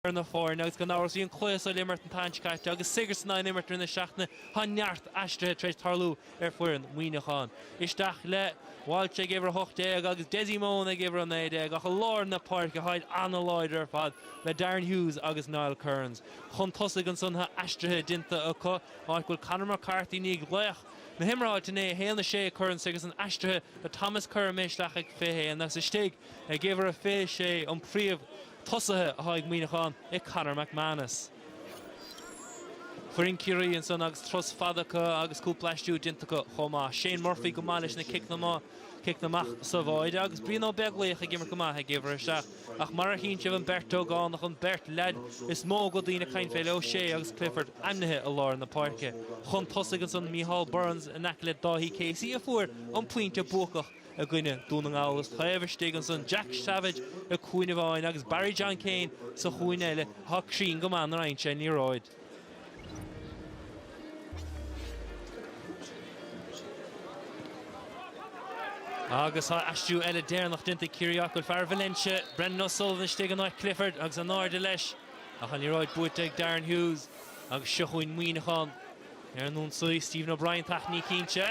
ar na foirne agus gan amhras bhí an cluas ar imirt an tseachtain seo caite agus Sigerson á n-imirt i rith na seachtaine tá neart aistrithe tar éis tarlú ar foireann Mhuineacháin. Isteach le Walshe ag uimhir a hocht déag agus Dessie Mone ag uimhir a naoi déag ach i lár na páirce táid an-láidir ar fad le Darren Hughes agus Niall Kearns chun tosaigh ansan tá aistrithe déanta acu áit go bhfuil Conor McCarthy ina laoch na himeartha, inné, 1 6 a Kearns agus an aistrithe do Thomas Kerr imithe isteach ag 21 agus istigh ag uimhir a 26 an príomh tosaithe atá ag Muineachán i Conor McManus. Foireann Ciarraí ansan agus turas fada acu agus cúpla aistriú déanta acu chomh maith. Shane Murphy go maith leis na ciceanna amach sa bháide agus Brian Ó Beaglaoich ag imirt go maith ag uimhir a 7. Ach mar a chíonn sibh an beirt ógánach an beirt leaid is mó go bhfuil daoine ag caint fé le Ó Sé agus Clifford ainmnithe i lár na páirce chun tosaigh ansan Micheál Burns in aice le Dáithí Casey a fuair an pointe buacach i gcoinne Dún na nGall is taobh istigh ansan Jack Savage i gcúinne amháin agus Barry John Keane sa chúinne eile atá cruinn go maith nuair a fhaigheann sé an liathróid. Agus tá aistriú eile deireanach déanta ag Ciarraí áit go bhfuil fear Valentia, Brendan O'Sullivan, istigh in áit Clifford agus in airde leis ach an liathróid buaite ag Darren Hughes agus seo chugainn Muineachán ar an ionsaí. Stephen O'Brien, tach níos cinnte.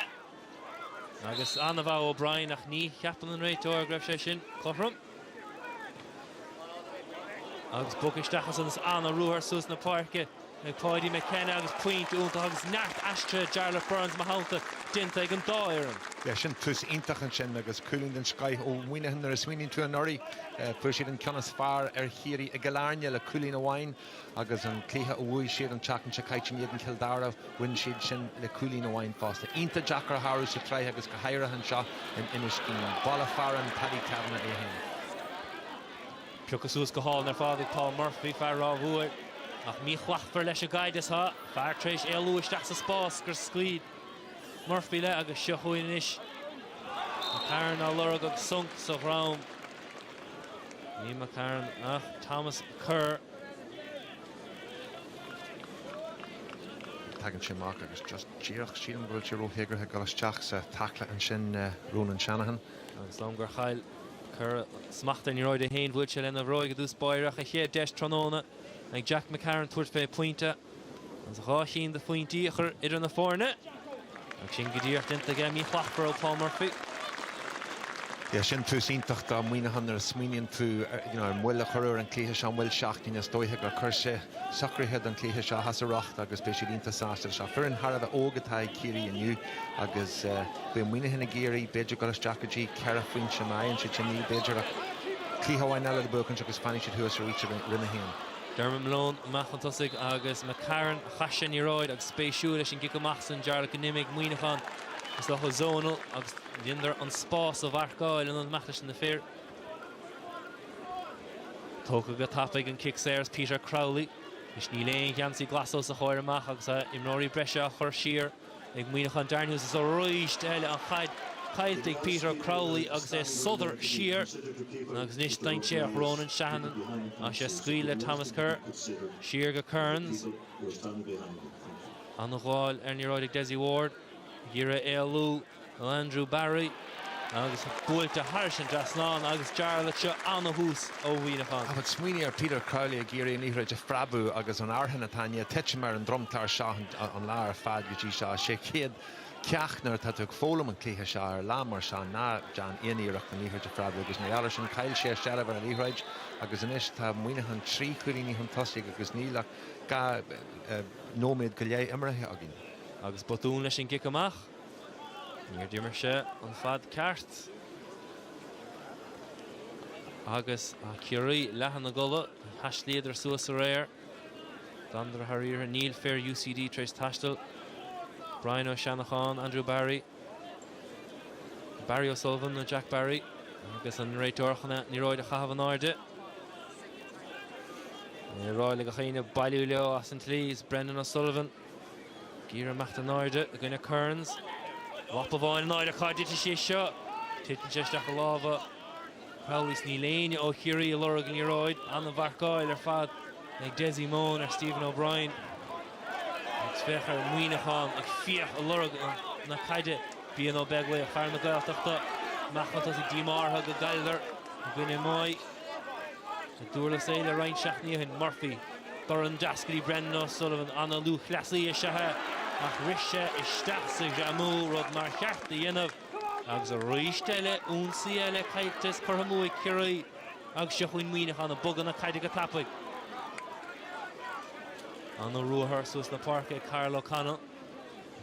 Agus an-mhaith O'Brien ach ní cheapann an réiteoir go raibh sé sin cothrom. Agus bogtha isteach ansan is an-ruathar suas na páirce ag Paudie McKenna agus pointe iontach agus neart aistrithe Jarlath Burns, i mo theannta, déanta ag an dá fhoireann. Yeah, sin tús iontach ansin agus cúilín den scoith ó Mhuineachán. Nuair a smaoiníonn tú anuraidh, fuair siad an ceann is fearr ar Chiarraí i gCill Airne le cúilín amháin. Agus an cluiche a bhuaigh siad an tseachtain seo caite in éadan Chill Dara, bhain siad sin le cúilín amháin fosta. Iontach deacair a shárú sa tsraith agus go háirithe anseo in Inis Caoin. Baile fearainn Paddy Kavanagh é féin. Piocadh suas go hálainn ar fad ag Paul Murphy, fear Ráth Mhór. Ach míshlachtmhar leis an gcaid is tá fear tar éis éalú isteach sa spás gur scaoil Murphy léi agus seo chugainn anois McCarron á lorg agus sonc sa dhrom. Ní McCarron ach Thomas Kerr. Tagann sé amach agus just díreach, sílim go bhfuil sé ró-théagartha ag dul isteach sa tackle ansin Ronan Shanahan. Agus liom gur chaill Kerr smacht ar an liathróid é féin, bhuail sé lena bhróig i dtús báire ach a chéad deis tráthnóna ag Jack McCarron tabhairt fé pointe. Agus dhá chinn de phointí a chur idir na foirne agus sin go díreach déanta aige Mícheal Clapper ó Paul Murphy. Bhí sé sin tús iontach do Mhuineachán nuair a smaoiníonn tú ar an mhoill a cuireadh ar an gcluiche seo, moill seachtaine. Is dóiche gur chuir sé socruithe don chluiche seo as a riocht agus beidh siad iontach sásta leis seo. Foireann thar a bheith óg atá ag Ciarraí inniu agus beidh Muineachán ag iarraidh b'fhéidir dul isteach go dtí ceithre phointe ina dhiaidh sin níl b'fhéidir ach cluiche amháin eile le buachaint agus fanfaidh siad thuas aríst i Roinn 1. Dermot Malone amach chun tosaigh agus McCarron a chas an liathróid agus spéisiúil leis an gcic amach san Jarlath go n-imigh Muineachán isteach i zonal agus dhéanadar an spás a mharcáil in ionad imeacht leis na fir. Tógtha go tapaidh an cic saor is Peter Crowley. Is níl aon gheansaí glas os a chomhair amach agus imreoirí breise á chur siar. Ag Muineachán Darren Hughes arís eile, an chaid caillte ag Peter Crowley agus é ag sodar siar agus anois dainséar Ronan Shanahan agus sé scaoil le Thomas Kerr. Siar go Kearns. An-ghabháil ar an liathróid ag Dessie Ward, ag iarraidh éalú. Ó Andrew Barry agus buailte thairis an dtrasnán agus Jarlath seo ana-thús ó Mhuineachán. But smaoinigh ar Peter Crowley ag iarraidh an liathróid a phreabadh agus an fhearthainn atá i ndiaidh titim ar an dromchla seo an lá ar fad go dtí seo. Sé an chéad cheacht nuair atá tú ag foghlaim an cluiche seo ar lá mar seo ná déan aon iarracht an liathróid a phreabadh agus mar gheall ar sin chaill sé a seilbh ar an liathróid agus anois tá Muineachán trí chúilíní chun tosaigh agus níl ach dhá nóiméad go leith imeartha againn. Agus botún leis an gcic amach. Níor d'imir sé an fad ceart agus Ciarraí leath ina gcodladh. Thaistlíodar suas aréir. D'fhanadar thar oíche. Níl fir UCD tar éis taisteal. Brian Ó Seanacháin, Andrew Barry, Barry O'Sullivan nó Jack Barry agus an réiteoir chun an liathróid a chaitheamh in airde. Ag rá le gach éinne bailiú leo as an tslí. Is Brendan O'Sullivan. Ag iarraidh imeacht in airde i gcoinne Kearns. Lapa amháin in airde, cá dtitfidh sé seo? Titeann sé isteach i lámha Crowley 's níl éinne ó Chiarraí ag lorg an liathróid. An-mharcáil ar fad ag Dessie Mone ar Stephen O'Brien. Agus féach ar Muineachán ag fiach ag lorg na caide. Brian Ó Beaglaoich, fear na Gaeltachta, amach chun tosaigh díomá orthu go gcailleadar i gcoinne Moy. I nDurlas Éile roinnt seachtainí ó shin, Murphy, dorn deas go dtí Brendan O'Sullivan, an-lúthchleasaí is ea é, ach rith sé isteach sa ghreamú, rud nár cheart a dhéanamh. Agus arís eile, ionsaí eile caillte is curtha amú ag Ciarraí agus seo chugainn Muineachán, ag bogadh na caide go tapaidh. An-ruathar suas na páirce ag Karl O'Connell.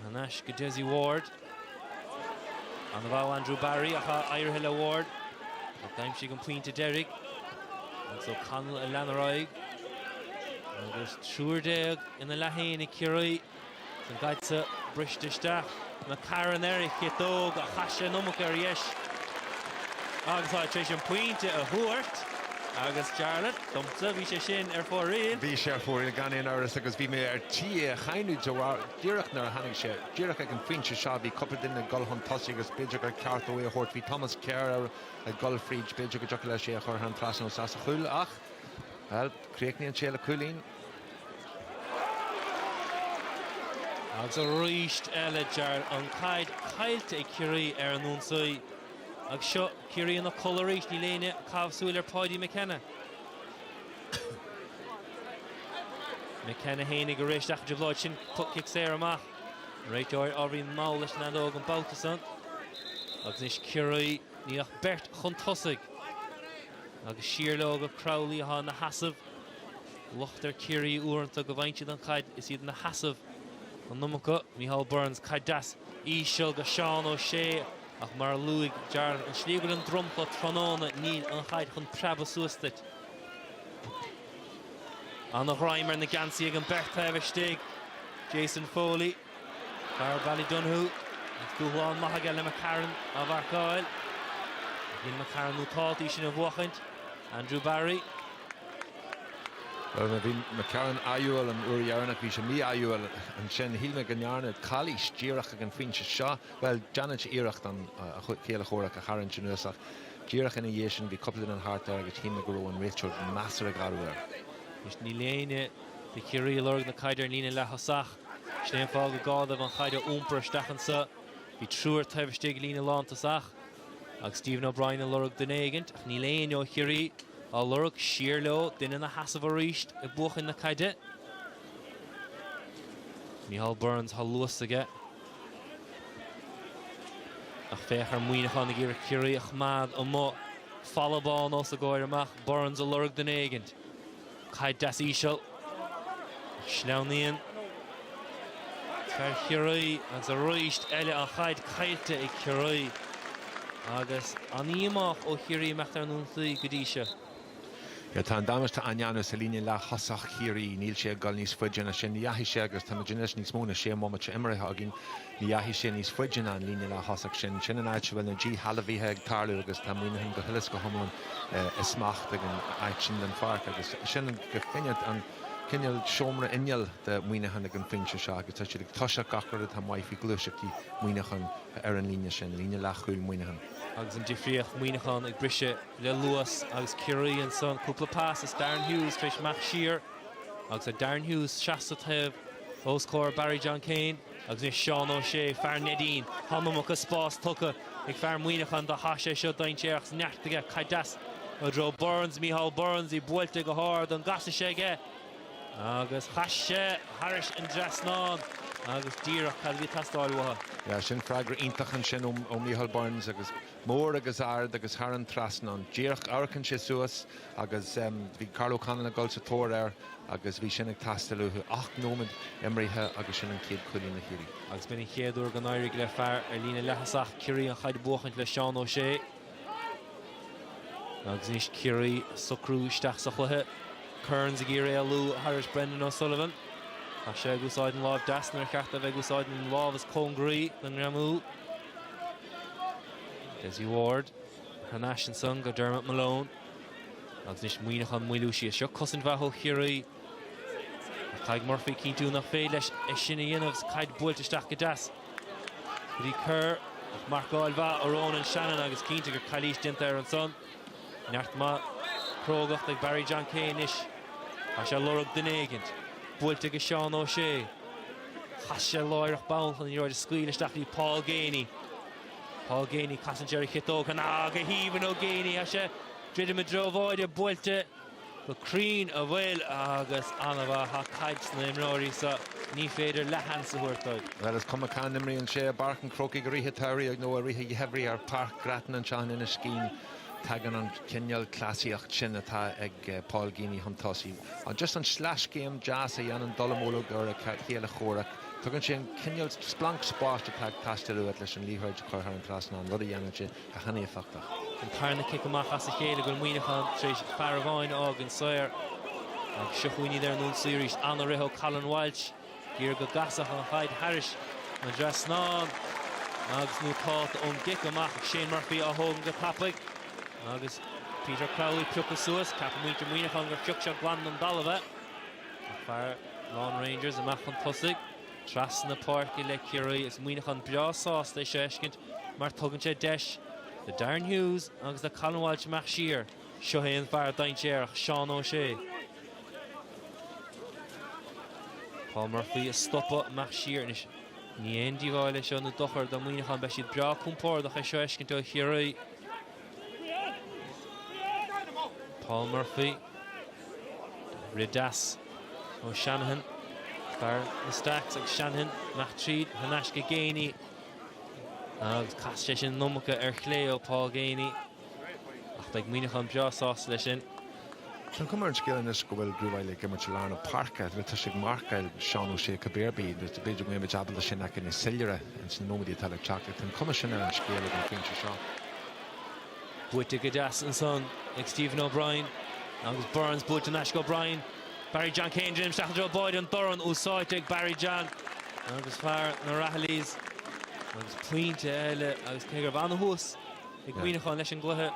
Thar n-ais go Dessie Ward. An babhta Andrew Barry ach éirithe le Ward ach d'aimsigh an pointe deiridh agus O'Connell a lean ar aghaidh agus triúr déag ina leathaonaigh Chiarraí san gaidhsa briste isteach. McCarron ar a chiotóg ach chaith sé an iomarca ar dheis agus táid tar éis an pointe a thabhairt agus Jarlath, domsa, bhí sé sin ar fóraoil. Bhí sé ar fóraoil gan aon amhras agus bhí mé ar tí é a cháineadh de bharr, Díreach nuair a tháinig sé, díreach ag an phointe seo, bhí cúpla duine ag dul chun tosaigh agus b'fhéidir gur cheart dó é a thabhairt, bhí Thomas Kerr ag dul fríd, b'fhéidir go dtiocfadh leis é a chur thar an trasnán nó sa chúl ach, bhuel, críochnaíonn sé le cúilín. Agus arís eile Jar, an caid caillte ag Ciarraí ar an ionsaí. Agus seo Ciarraí ina codladh arís, níl éinne cabhsúil ar Paudie McKenna. McKenna ina aonar arís ach de bharr sin tug cic saor amach. Réiteoir ábhairín mall leis an fheadóg an babhta san. Agus anois Ciarraí níl ach beirt chun tosaigh. Agus siar leo go Crowley atá ina sheasamh. Locht ar Ciarraí uaireanta go bhfaigheann siad an chaid is iad ina sheasamh. An iomarca, Micheál Burns, caid deas íseal go Seán Ó Sé. Ach mar a luaigh Jarlath ana-shleamhain an dromchla tráthnóna níl an chaid chun preabadh suas duit. Ana ghreim ar na geansaí ag an beirt taobh istigh. Jason Foley, fear Ballydonoghue, agus dúshlán maith aige le McCarron á mharcáil. Éiríonn McCarron ábalta í sin a bhuachaint. Andrew Barry. Bhuel, bhí McCarron ádhúil an uair dheireanach, bhí sé mí-ádhúil ansin. Shíl mé go ndearnadh calaois díreach ag an phointe seo. Bhuel, déanann sé iarracht an chéile comhraic a tharraingt anuas ach díreach ina dhiaidh sin bhí cúpla duine thart air agus shíl mé go raibh an réiteoir measartha garbh air. Anois níl éinne de Chiarraí a' lorg na caide ar an líne leath-thosach. Sin é an fáth gur gá dóibh an chaid a iompar isteach anso. Bhí triúr taobh istigh líne lántosach agus Stephen O'Brien a' lorg duine éigint ach níl éinne ó Chiarraí á lorg. Siar leo, duine ina sheasamh arís ag buachan na caide. Micheál Burns, tá luas aige. Ach féach ar Mhuineachán ag iarraidh Ciarraí a choimeád amuigh. Falla bán os a gcomhair amach. Burns a lorg duine éigint. Caid deas íseal. Ach sleamhnaíonn fear Chiarraí agus arís eile an chaid caillte ag Ciarraí. Agus an-díomá ó Chiarraí imeacht ar an ionsaí go dtí seo. Nuair atá an damáiste á ndéanamh sa líne leath-thosach Chiarraí, níl sé ag dul níos faide ná sin. Ní dheachaigh sé agus táimid anois níos mó ná sé mbomaite imeartha againn, ní dheachaigh sé níos faide ná an líne leath-thosach sin. Sin an áit a bhfuil na díshealbhaithe ag tarlú agus tá Muineachán go huile 's go hiomlán i smacht ag an áit sin den pháirc agus sin go cinnte an cineál seomra inneall do Mhuineachán ag an phointe seo agus tá siad ag toiseacht gach rud atá maith faoi gluaiseachtaí Mhuineacháin ar an líne sin, líne leath-chúil Mhuineacháin. Agus an difríocht, Muineachán ag briseadh. le luas agus Ciarraí ansan cúpla pas is Darren Hughes tar éis imeacht siar agus tá Darren Hughes seasta taobh os comhair Barry John Keane agus anois Seán Ó Sé, fear Neidín. Tá an iomarca spás tugtha ag fear Muineacháin dó tá sé seo dainséarach is neart aige caiteas i dtreo Burns, Micheál Burns, í buailte go hard an gcasfaidh sé aige agus chas sé thairis an dtrasnán agus díreach cad a bhí ag teastáil uathu. Sin freagra iontach ansin ó Micheál Burns agus. mór agus ard agus thar an trasnán díreach. Amharcann sé suas agus bhí Karl O'Connell ag dul sa tóir air agus bhí sin ag teastáil uathu. Ocht nóimead imrithe agus sin an chéad cúilín do Chiarraí. Agus b'in an chéad uair go n-éirigh le fear ar líne leath-thosach Ciarraí an chaid a bhuachaint le Seán Ó Sé. Agus anois Ciarraí socrú isteach sa chluiche. Kearns ag iarraidh éalú thairis Brendan O'Sullivan. Tá sé ag úsáid an láimh deas nuair ba cheart dó a bheith ag úsáid an láimh is cóngaraí don ngreamú. Dessie Ward, thar n-ais ansan go Dermot Malone. Agus anois Muineachán moilliú síos. Seo cosaint mhaith ó Chiarraí. Caithfidh Murphy cinntiú nach féidir leis é sin a dhéanamh is caid buailte isteach go deas. Go dtí Kerr, marcáil mhaith ó Ronan Shanahan agus cinnte gur calaois déanta air ansan. Neart maith crógacht ag Barry John Keane anois. Tá sé ag lorg duine éigint. Buailte go Seán Ó Sé. Chas sé láithreach bonn chun liathróid a scaoileadh isteach go dtí Paul Geaney. Paul Geaney, casann sé ar a chiotóg. Cnag aoibhinn ó Geaney. Tá sé druidim i dtreo bháide. Buailte. Go cruinn a bhfuil agus an-mhaith tá caid sna himreoirí so. Ní féidir leath-sheans a thabhairt dóibh. Bhuel is cuma cá n-imríonn sé, i bPáirc an Chrócaigh i rith an tsamhraidh nó i rith an gheimhridh ar Pháirc Grattan anseo in Inis Caoin, tagann an cineál cleasaíocht sin atá ag Paul Geaney chun tosaigh. Just an sleaschéim deas a dhéanann dallamullóg ar a chéile comhraic. Tugann sé an cineál splanc spáis atá ag teastáil uait leis an liathróid a chur thar an trasnán, rud a dhéanann sé. Go han-éifeachtach. An tarna cic amach as a chéile go bhfuil Muineachán tar éis fear amháin a fhágaint saor. Agus seo chugainn iad ar an ionsaí arís. Ana-rith ó Colin Walshe. Ag iarraidh go gcasfadh an chaid thairis an dtrasnán. Agus nótálta ón gcic amach Shane Murphy á thógaint go tapaidh. Agus Peter Crowley pioctha suas. Ceapann muintir Muineachán gur phioc sé glan den dtalamh í. Ach fear Laune Rangers amach chun tosaigh. Trasna páirce le Ciarraí agus Muineachán breá sásta é seo a fheiscint mar tugann sé deis do Darren Hughes agus do Colin Walsh imeacht siar. Seo é an fear dainséarach, Seán O'Shea. Paul Murphy ag stopadh imeacht siar anois. Ní aon díobháil é seo nó dochar do Mhuineachán. Beidh siad breá compordach é seo a fheiscint ó Chiarraí. Paul Murphy, rith deas ó Shanahan, fear na Stacks agus Shanahan, imeacht tríd in aisce Geaney agus chas sé sin an iomarca ar chlé ó Paul Geaney ach beidh Muineachán breá sásta leis sin. Tá cuma ar an scéal anois go bhfuil Drew Wylie ag imirt i lár na páirce. Bhuel tá sé ag marcáil Seán O'Shea cibé ar bith agus b'fhéidir go mbeimid ábalta é sin a fheiceáil níos soiléire ins na nóiméadaí atá le teacht ach tá an cuma sin ar an scéal ag an phointe seo. Buaite go deas ansan ag Stephen O'Brien agus Burns buailte in aisce. O'Brien, Barry John Keane déanamh isteach i dtreo báide, an dorn úsáidte ag Barry John agus fear na Rahillys agus pointe eile agus cé go raibh ana-thús ag Muineachán leis an gcluiche,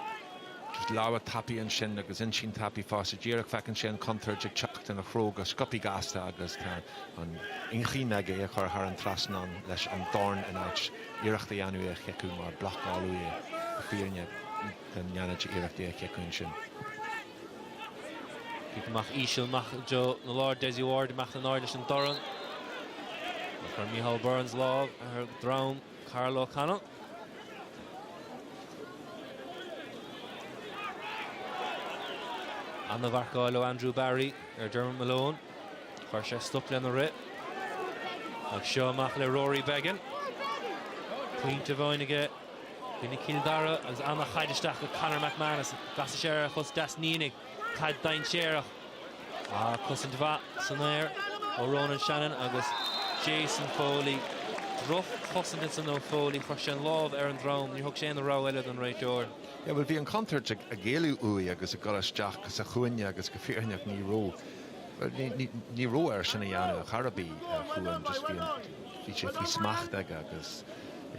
Just lámha tapaidh annsin agus intinn tapaidh fosta. Díreach feiceann sé an chontuirt ag teacht ina threo go sciobtha gasta agus tá an inchinn aige é a chur thar an trasnán leis an dorn in áit iarracht a dhéanamh é a chiceadh mar blocáladh é go fírinne dá ndéanfadh sé iarracht é a chiceadh annsin. Cic amach íseal amach i dtreo an láir Dessie Ward imeacht in airde leis an dorn. Chuir Micheál Burns lámh ar dhrom Karl O'Connell. Ana-mharcáil ó Andrew Barry ar Dermot Malone. Chuir sé stop lena rith. Ag seo amach le Rory Beggan. Pointe amháin aige i gcoinne Chill Dara agus ana-chaid isteach go Conor McManus. Casfaidh sé ar a chos deas, ní dhéanfaidh. Caid dainséarach. Ach cosaint mhaith san aer ó Ronan Shanahan agus Jason Foley. Droch chosaint ansin ó Foley. Chuir sé an lámh ar an drom. Níor thug sé aon rogha eile don réiteoir. Yeah bhuel bhí an contúirt ag ag éalú uaidh agus ag goil isteach sa chúinne agus go fírinneach ní raibh bhuel ní ní ní raibh air sin a dhéanamh ar chor ar bith a Chuáin just bhí an bhí sé faoi smacht aige agus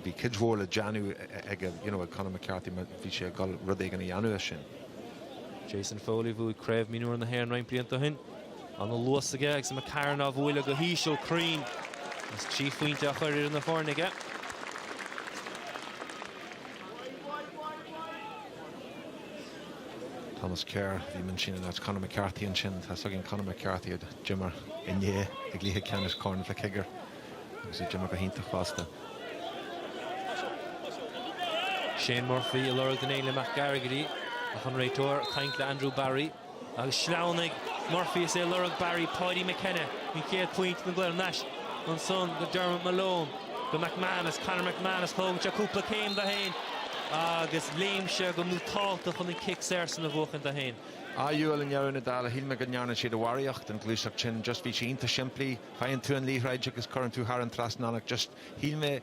bhí cuid mhór le déanamh aige you know ag Conor McCarthy bhí sé ag goil rud éigin a dhéanamh as sin. Jason Foley bhuaigh Craobh Mionúr na hÉireann roinnt blianta ó shin. Ana-luas aige agus McCarron á bhualadh go híseal cruinn agus trí phointe á chur ar na foirne aige. Thomas Kerr, chím ansin in áit Conor McCarthy ansin. Tá a fhios againn Conor McCarthy a d'imir inné i gcluiche ceannais Corn Mhic Shigiúir. agus a d'imir go hiontach fosta. Shane Murphy ag lorg den Ainle Mac Gargairí ach an réiteoir ag caint le Andrew Barry agus sleamhnaigh Murphy is é ag lorg Barry Paudie McKenna an chéad phointe den gcluiche anois ansan go Dermot Malone go McManus Conor McManus tógann sé cúpla céim dó fhéin agus léim sé go nótálta chun an cic saor san a bhuachaint dó fhéin. Ádhúil i ndeireadh na dála shíl mé go ndearna siad a bharraíocht den ghluaiseacht sin just bhí sí iontach simplí. Faigheann tú an liathróid agus cuireann tú thar an trasnán ach just, shíl mé,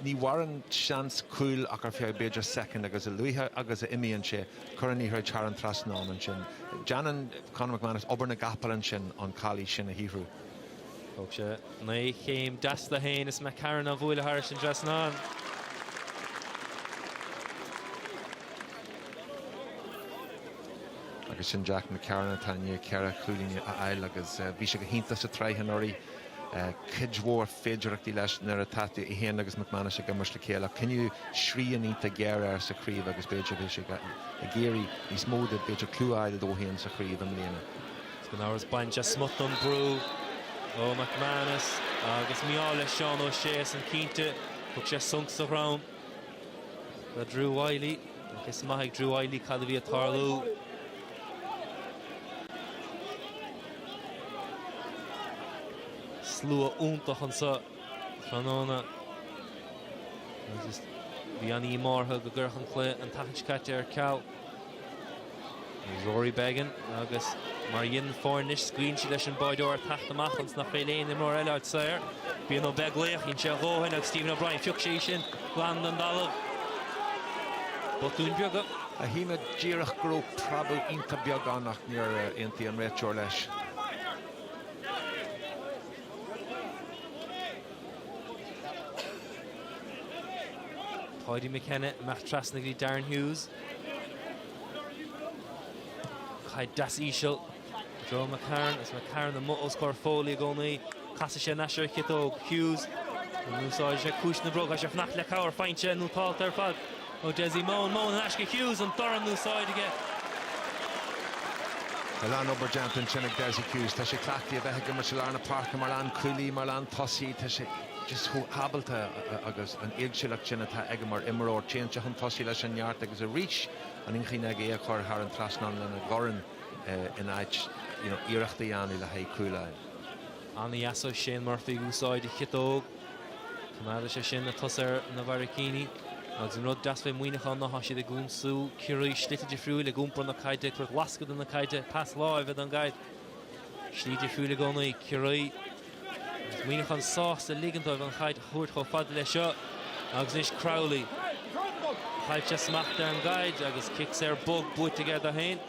ní mhaireann seans cúil ach ar feadh b'fhéidir soicind agus a luaithe agus a imíonn sé, cuir an liathróid thar an trasnán ansin. Déanann Conor McManus obair na gcapall ansin, an chalaois sin a shaothrú. Thóg sé ana-chéim deas dó féin is McCarron á bhualadh thairis an trasnán. Agus sin Jack McCarron atá i ndiaidh ceithre chúilín a fháil agus bhí sé go hiontach sa tsraith anuraidh. Cuid mhór féidearthachtaí leis nuair atá tú, é féin agus McManus, ag imirt le chéile. Ach coinníodh srian iontach géar air sa chraobh agus b'fhéidir go bhfuil sé ag iarraidh níos mó de, b'fhéidir clú a fháil dó féin sa chraobh i mbliana. Gan amhras baineann sé smut den bhrú ó McManus agus mí-ádh le Seán O'Shea ansan cinnte. Thug sé sonc sa dhrom do Drew Wylie. Tá fios maith ag Drew Wylie cad a bhí ag tarlú. Slua iontach anseo tráthnóna. Bhí an-díomá orthu gur cuireadh an cluiche an tseachtain seo caite ar ceal. Rory Beggan agus mar a dheineann foirne anois scaoileann siad leis an mbáideoir ag teacht amach ionas nach bhfuil aon imreoir eile saor. Brian Ó Beaglaoich, dhein sé a dhóthain agus Stephen O'Brien, phioc sé í sin glan den dtalamh. Botúin beaga. Shíl mé díreach go raibh preabadh iontach beag ann ach níor aontaigh an réiteoir leis. Paudie McKenna, amach trasna go dtí Darren Hughes. Caid dheas íseal i dtreo McCarron agus McCarron amuigh os comhair Foley i gcónaí. Casfaidh sé anois ar a chiotóg. Hughes. Úsáidfidh sé ciumhais na bróige. Tá sé ag fanacht le cabhair. Faighte nótálta ar fad ó Dessie Mone. Mone thar n-ais go Hughes. An dorn in úsáid aige. Tá a lán obair déanta ansin ag Dessie Hughes. Tá sé cleachtaithe a bheith ag imirt i lár na páirce mar lánchúlaí, mar lántosaí. Tá sé. just chomh hábalta agus an éagsúlacht sin atá aige mar imreoir. Téann sé chun tosaigh leis an neart agus arís an inchinn aige é a chur thar an trasnán lena dhorn in áit you know iarracht a dhéanamh le haghaidh cúl a fháil. Ana-dheas ó Shane Murphy ag úsáid a chiotóg. Coimeádfaidh sé sin na tosaithe ar a mbarraicíní. Agus an rud deas fé Mhuineachán ná tá siad ag ionsú Ciarraí slite difriúla ag iompar na caide, ag tabhairt lascadh don gcaid, pas láimhe don gcaid. Slí difriúil i gcónaí, Ciarraí. Agus Muineachán sásta ligint dóibh an chaid a thabhairt chomh fada leis seo agus anois Crowley. Chaill sé smacht ar an gcaid agus cic saor bog buaite aige dó féin.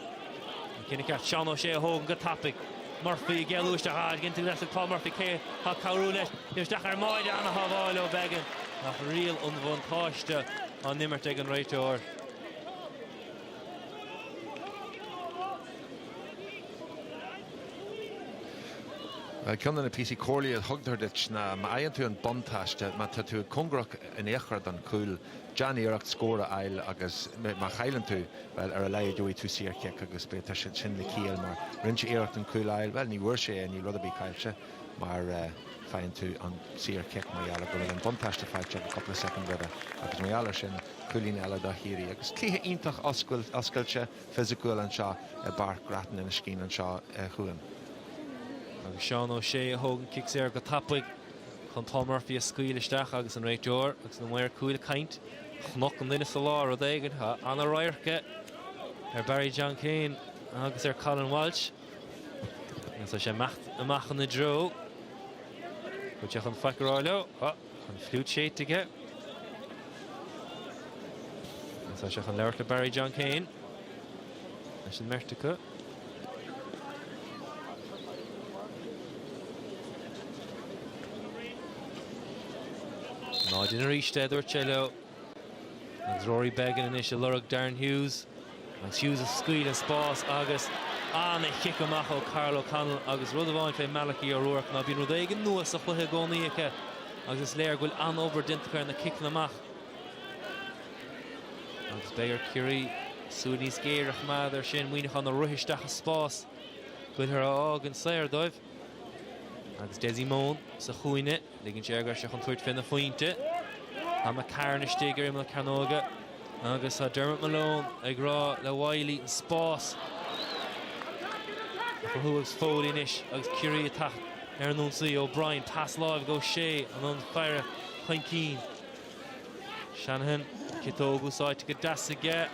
An cinneadh ceart Seán Ó Sé á thógaint go tapaidh. Murphy ag éalú isteach ach ag cinntiú leis Paul Murphy cé tá ag cabhrú leis. Ligeadh isteach ar Máire ana shábháil ó Beggan ach riail an bhuntáiste á n-imirt ag an réiteoir. Ceann de na píosaí comhairle a thugtar duit ná má fhaigheann tú an buntáiste, má tá tú cóngarach in aon chor don chúl, deán iarracht scór a fháil agus má chailleann tú, bhuel, ar a laghad gheobhaidh tú saor chic agus b'fhéidir tá sin le ciall mar rinne sé iarracht an cúl a fháil, bhuel, ní bhfuair sé é, níl rud ar bith caillte mar faigheann tú an saor chic mar gheall ar go bhfuil an buntáiste faighte cúpla soicind roimhe agus mar gheall ar sin, cúilín eile do Chiarraí agus cluiche iontach oscailte fisiciúil anseo i bPáirc Grattan Inis Caoin anseo a Chuáin. Agus Seán Ó Sé a thóg an cic saor go tapaidh chun Paul Murphy a scaoil isteach agus an réiteoir agus na maoir cúil ag caint chonaic an duine sa lár, rud éigin. Tá an-radharc ar Barry John Keane agus ar Colin Walsh agus tá sé amach ina dtreo go dtí chun faic a rá leo. Tá an fliúit séidte aige. Agus tá sé chun labhairt le Barry John Keane leis an mbeirt acu. Ná déan aríst é a dúirt sé leo. Agus Rory Beggan anois ag lorg Darren Hughes agus Hughes a scaoil an spás agus ana chic amach ó Karl O'Connell agus rud amháin fé Malachy O'Rourke ná bíonn rud éigin nua sa chluiche i gcónaí acu agus is léir go bhfuil an-obair déanta acu ar na ciceanna amach. Agus beidh ar Ciarraí súil níos géire a choimeád ar sin, Muineachán a' rith isteach i spás, go bhfuiltear á fhágaint saor dóibh. Agus Dessie Mone sa chúinne, ligeann sé air go bhfuil sé chun tabhairt féna phointe. Tá McCarron istigh ar imeall cearnóige agus tá Dermot Malone ag rá le Wylie an spás a chruthú agus Foley anois agus Ciarraí ag teacht ar an ionsaí. O'Brien, pas láimhe go O'Shea, an ionfhaire chun cinn. Shanahan, ciotóg úsáidte go deas aige.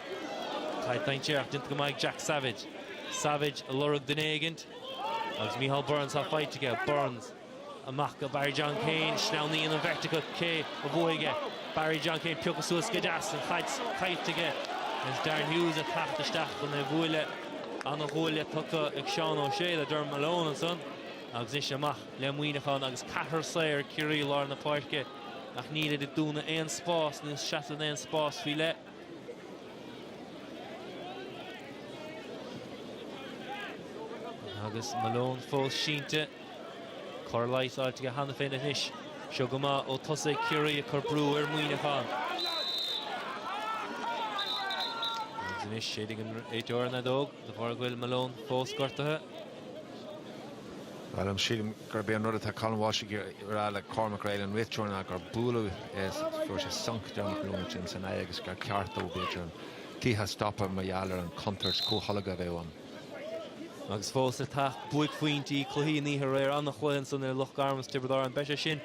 Caid dainséarach déanta go maith ag Jack Savage. Savage ag lorg duine éigint. Agus Micheál Burns tá faighte aige, Burns amach go Barry John Keane, sleamhnaíonn an bheirt acu cé a bhuafaidh é. Barry John Keane pioctha suas go deas, an chaid caillte aige. Is Darren Hughes ag teacht isteach chun é a bhualadh. Ana ghuaille tugtha ag Seán Ó Sé le Dermot Malone ansan. Agus anois amach le Muineachán agus ceathrar saor ag Ciarraí i lár na páirce ach nílid ag dúnadh aon spás, níl seasamh in aon spás faoi leith. Agus Malone fós sínte, cóir leighis á fháilt aige cheana féin anois. Seo go maith ó thosaigh Ciarraí ag cur brú ar Mhuineachán. Agus anois séideann an réiteoir an fheadóg. De bharr go bhfuil Malone fós gortaithe? Bhuel, sílim gurb é an rud atá Colin Walshe a rá le Cormac Reilly an réiteoir ná gur buaileadh é is go bhfuair sé sonc Dermot Malone ansin san aghaidh agus gur cheart dó, b'fhéidir, an cluiche a stopadh mar gheall ar an chontúirt comhtholgadh a bheith ann. Agus fós le teacht, buaicphointí chluichí na hoíche aréir, an-chluiche ansan ar Loch Garman is Tiobraid Árann. Beidh sé sin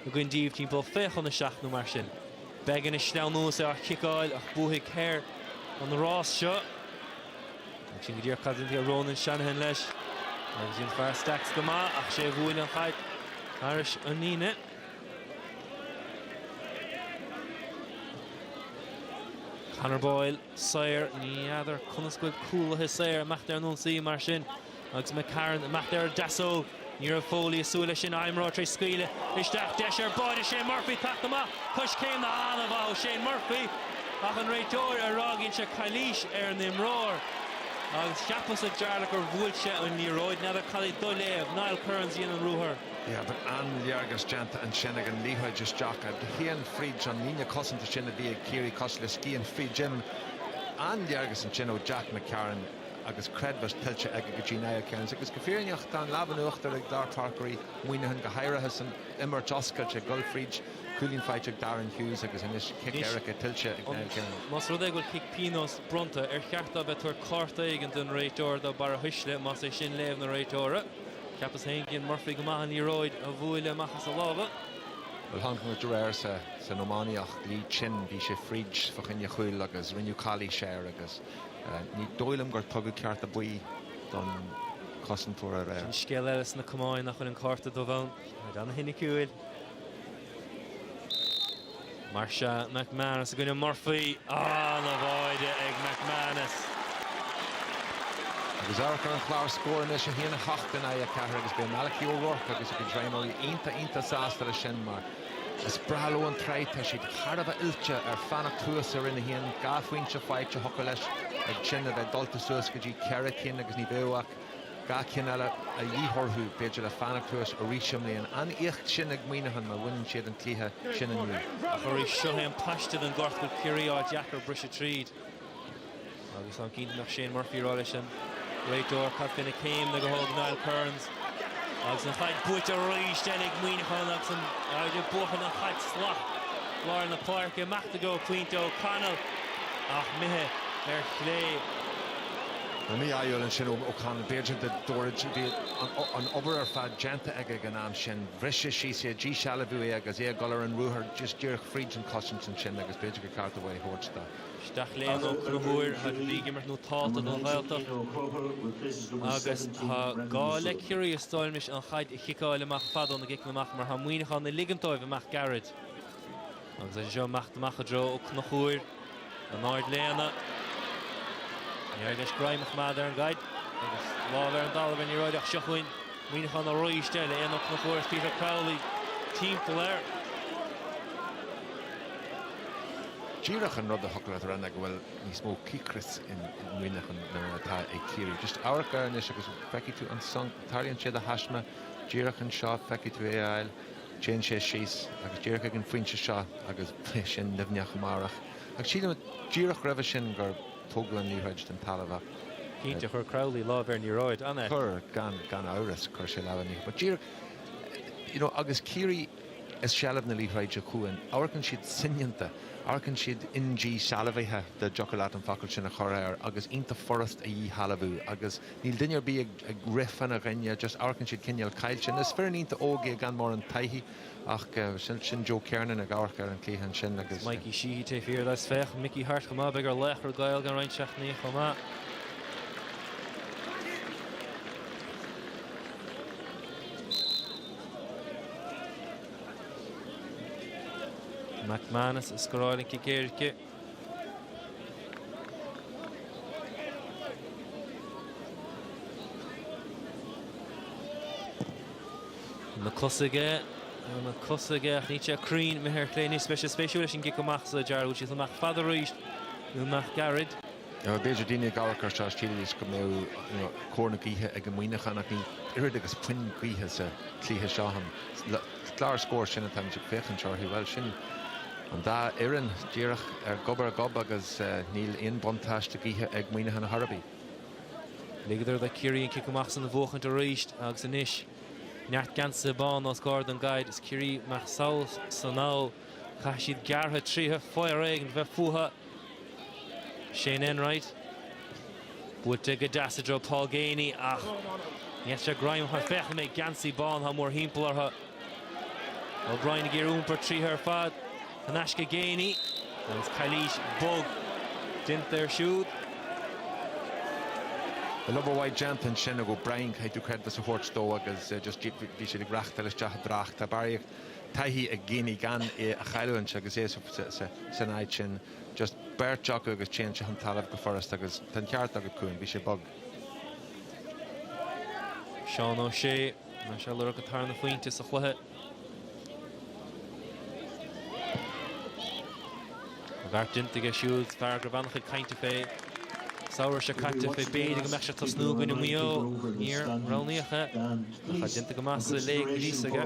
againn díbh timpeall fiche chun a seacht nó mar sin. Beggan ag sleamhnú is é á chiceáil ach buafaidh Kerr an rás seo. Ag sin go díreach cad a dhéanfaidh Ronan Shanahan leis. Agus dhein fear Stacks go maith ach sé bhuail an chaid thairis an líne. Conor Boyle saor, ní fheadar conas go bhfuil cúlaithe saor ag imeacht ar an ionsaí mar sin. Agus McCarron ag imeacht ar an deasóg. Ní raibh Foley ag súil leis sin. An imreoir tar éis scaoileadh isteach. Deis ar bháide Shane Murphy ag teacht amach. Coiscéimeanna an-mhaith ó Shane Murphy. Ach an réiteoir ag rá gur dhein sé calaois ar an imreoir. Agus cheapas a Jarlath gur bhuail sé an liathróid. N'fheadar cad é do léamh. Niall Kearns a dhein an ruathar. Bhí an-léargas déanta ansin ag an liathróid isteach a théann fríd an líne cosanta sin a bhí ag Ciarraí cosúil le scian fríd im. An-léargas ansin ó Jack McCarron. agus creidmheas tuillte aige go dtí Niall Kearns agus go fírinneach tá an lámh in uachtar ag lár páirce Mhuineacháin go háirithe san imirt oscailte, ag gabháil fríd cúilín faighte ag Darren Hughes agus anois cic éirice tuillte ag Niall Kearns. Más rud é go bhfuil cic pionóis bronnta, ar cheart dó bheith ag tabhairt cárta éigin don réiteoir do bharrathuisle, más é sin léamh an réiteora? Cheapas féin gur dhein Murphy go maith an liathróid a bhualadh amach as a lámha. Bhuel chonaic muid aréir san iománaíocht, Lee Chin, bhí sé fríd fá choinne cúil agus rinneadh calaois air agus. Ní dóigh liom gur tugadh cárta buí don chosantóir aréir. Sin scéal eile sna camáin nach bhfuil an cárta dubh ann. Ar an shoiniciúil. Mar sin McManus i gcoinne Murphy. Ana-bháide ag McManus. Agus amharc ar an chlár scór anois, 1-7 in aghaidh 4, agus beidh Malachy O'Rourke agus a chuid roghnóirí iontach iontach sásta leis sin mar Is breá leo an tsraith, tá siad thar a bheith oilte ar fanacht thuas i Roinn 1, dhá phointe faighte, thiocfadh leis ag sin a bheith dulta suas go dtí ceithre cinn agus ní bheadh ach dhá cinn eile a dhíth orthu b'fhéidir le fanacht thuas arís i mbliana. An-éacht sin ag Muineachán má bhaineann siad an cluiche sin inniu. Ach arís, seo é an paiste den ghort go bhfuil Ciarraí á fháil deacair briseadh tríd. Agus táim cinnte go mbeadh Shane Murphy ag rá leis an réiteoir cad fé na céimeanna a thóg Niall Kearns. Agus an chaid buaite arís eile ag Muineachán agus an fhaid a buachan an chaid slat lár na páirce. Imeacht i dtreo pointe ó Connell ach imithe ar chlé. An mí-ádh eile ansin ó Connell. B'fhéidir i ndáiríre a bhí an obair ar fad déanta aige ag an am sin. Bhris sé síos é, díshealbhaíodh é agus é ag dul ar an ruathar díreach fríd an cosaint ansin agus b'fhéidir gur cheart uaidh í a thabhairt dó. Isteach Léin Ó Conchúir thar a bheith ag imirt inniu atá don Ghaeltacht agus tá gá le Ciarraí is dócha an chaid a chiceáil amach fada óna gciceanna amach mar tá Muineachán a' ligint dóibh amach gairid. Agus í seo imithe amach i dtreo Ó Conchúir in airde Léin. Níor éirigh leis greim a choimeád ar an gcaid agus lámh ar an dtalamh ar an liathróid ach seo chugainn Muineachán aríst eile. Éanna Ó Conchúir agus Peter Crowley timpeall air. díreach an rud a thiocfadh leat a rá ná go bhfuil níos mó cíocrais i Muineachán ná atá ag Ciarraí. Just amharc air anois agus feicfidh tú an sonc. Tarlaíonn sé de thaisme. Díreach anseo feicfidh tú é bhuel. Téann sé síos agus díreach ag an phointe seo agus beidh sé nimhneach amárach. Ach sílim díreach roimhe sin gur tógadh an liathróid den talamh ach. Cinnte, chuir Crowley lámh ar an liathróid, an ea? Chuir, gan amhras, chuir sé lámh ar an liathróid. But díreach, you know, agus Ciarraí. i seilbh na liathróide acu ann. Amharcann siad soineanta. Amharcann siad indíshealbhaithe dá dtiocfadh leat an focal sin a chur air agus iontach furast a dhíshealbhú agus níl duine ar bith ag rith fána choinne, just amharcann siad cineál caillte. Is foireann iontach óg í gan mórán taithí ach sin Joe Kernan ag amharc ar an chluiche ansin agus. Mikey Sheehy taobh thiar de agus féach Mickey Harte chomh maith. Beidh ar Laochra Gael i gceann roinnt seachtainí chomh maith. McManus a scoráil an cic éirice. Mac Cosaigh ach níl sé cruinn, imithe ar chlé, beidh sé spéisiúil leis an gcic amach so Jarlath, amach fada arís, nó amach gairid. B'fhéidir daoine ag amharc ar seo is shílidís go mbeadh cóir na gaoithe ag Muineachán ach níl oiread agus puth gaoithe sa chluiche seo. An clár scór sin atá muid ag féachaint orthu, bhuel sin an dá fhoireann díreach ar gob ar ghob agus níl aon bhuntáiste gaoithe ag Muineachán chor ar bith. Ligeadar do Chiarraí an cic amach san a bhuachaint arís agus anois neart geansaithe bána os comhair an gcaid. Ag Ciarraí amach sall is anall. Caithfidh siad gearradh tríothu fire éigin a bheith fúthu. Shane Enright. Buailte go deas i dtreo Paul Geaney ach ní fheictear greim chun féach an méid geansaí bán atá mórthimpeall orthu. O'Brien ag iarraidh iompar tríothu ar fad in aisce Geaney agus calaois bog déanta air siúd. Yeah obair mhaith déanta ansin ag O'Brien caithfidh tú creidiúint a thabhairt dó agus just bhí siad ag reachtáil isteach i dtrácht. Tá barraíocht. taithí ag Geaney gan é a chailliúint agus é san áit sin, just beirt acu agus téann sé chun talaimh go furasta agus tá an ceart agat Cuán, bhí sé bog. Seán Ó Sé, tá sé ag lorg a tharna pointe sa chluiche. An beart déanta aige siúd, fear go raibh ana-chuid cainte fé an samhradh seo caite fé b'fhéidir go mbeadh sé ag tosnú i gcoinne Mhaigh Eo. Níor roghnaíodh é. Bheadh sé déanta go maith sa léig níos aige.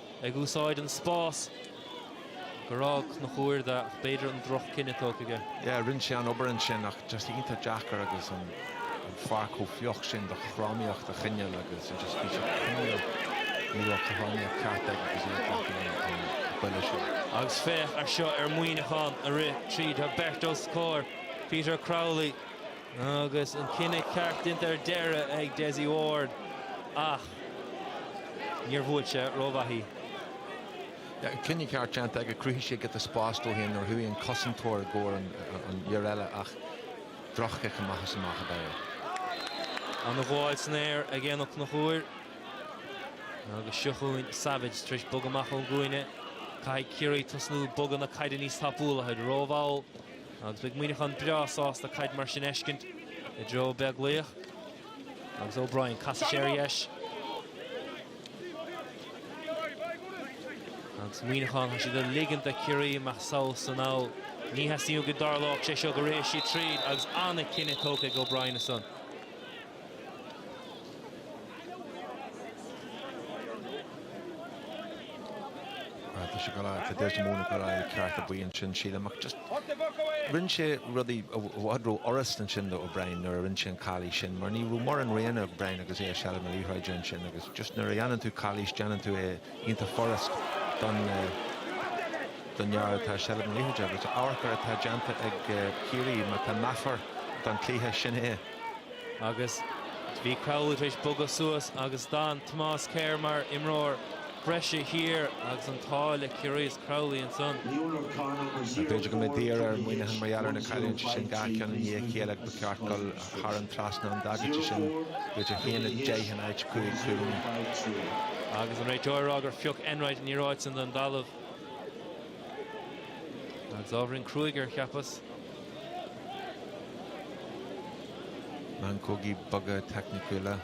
ag úsáid an spás gur fhág Ó Conchúir dó ach b'fhéidir an drochchinneadh tógtha aige. Yeah rinn sé an obair ansin ach just iontach deacair agus an an pháirc chomh fliuch sin do chothromaíocht a choinneáil agus just bhí sé cineál ní raibh cothromaíocht ceart aige agus iad faic an an buille sin. Agus féach air seo ar Muineachán ag rith tríd tá beirt os comhair Peter Crowley agus an cinneadh ceart déanta ar deireadh ag Dessie Ward ach Níor bhuail sé rómhaith í. An cinneadh ceart déanta aige, chruthaigh sé giota spáis dó féin nuair a chuaigh an cosantóir i gcomhair an fhir eile ach droch-chic amach is amach ab ea é. Ana-ghabháil san aer ag Éanna Ó Conchúir. Agus seo chugainn Savage tar éis bogadh amach ón gcúinne. Caithfidh Ciarraí tosnú ag bogadh na caide níos tapúla. Táid rómhall agus beidh Muineachán breá sásta caid mar sin fheiscint i dtreo Beaglaoich. Agus O'Brien, casann sé ar dheis. Agus Muineachán, tá siad ag ligint do Chiarraí imeacht sall is anall. Ní theastaíonn go dtarlódh sé seo go raghaidh siad tríd agus an-chinneadh tógtha ag O'Brien ansan. Tá sé ag gabháil, tá Dessie Mone ag gabháil cárta buí ansin sílim ach just rinne sé rudaí i bhfad ró-fhurast ansin do O'Brien nuair a rinne sé an calaois sin mar ní raibh mórán roghanna ag O'Brien agus é i seilbh na liathróide ansin agus just nuair a dhéanann tú calaois déanann tú é iontach furast don fhear atá i seilbh na liathróide agus amharc ar atá déanta ag Ciarraí mar tá meafar don chluiche sin é. Agus bhí Crowley tar éis bogadh suas agus d'fhan Thomas Kerr mar imreoir. breise thiar agus an t-ádh le Ciarraí is Crowley ansan. B'fhéidir go mbeidh daor ar Mhuineachán mar gheall ar na cailliúintí sin dhá cheann i ndiaidh a chéile agus ba cheart dul thar an trasnán an dagairtí sin b'fhéidir 1-10 in áit 5-3? Agus an réiteoir ag rá gur phioc Enright an liathróid san don dtalamh. Agus ábhairín cruaidh air, cheapas. Meancógaí beaga teicniúla.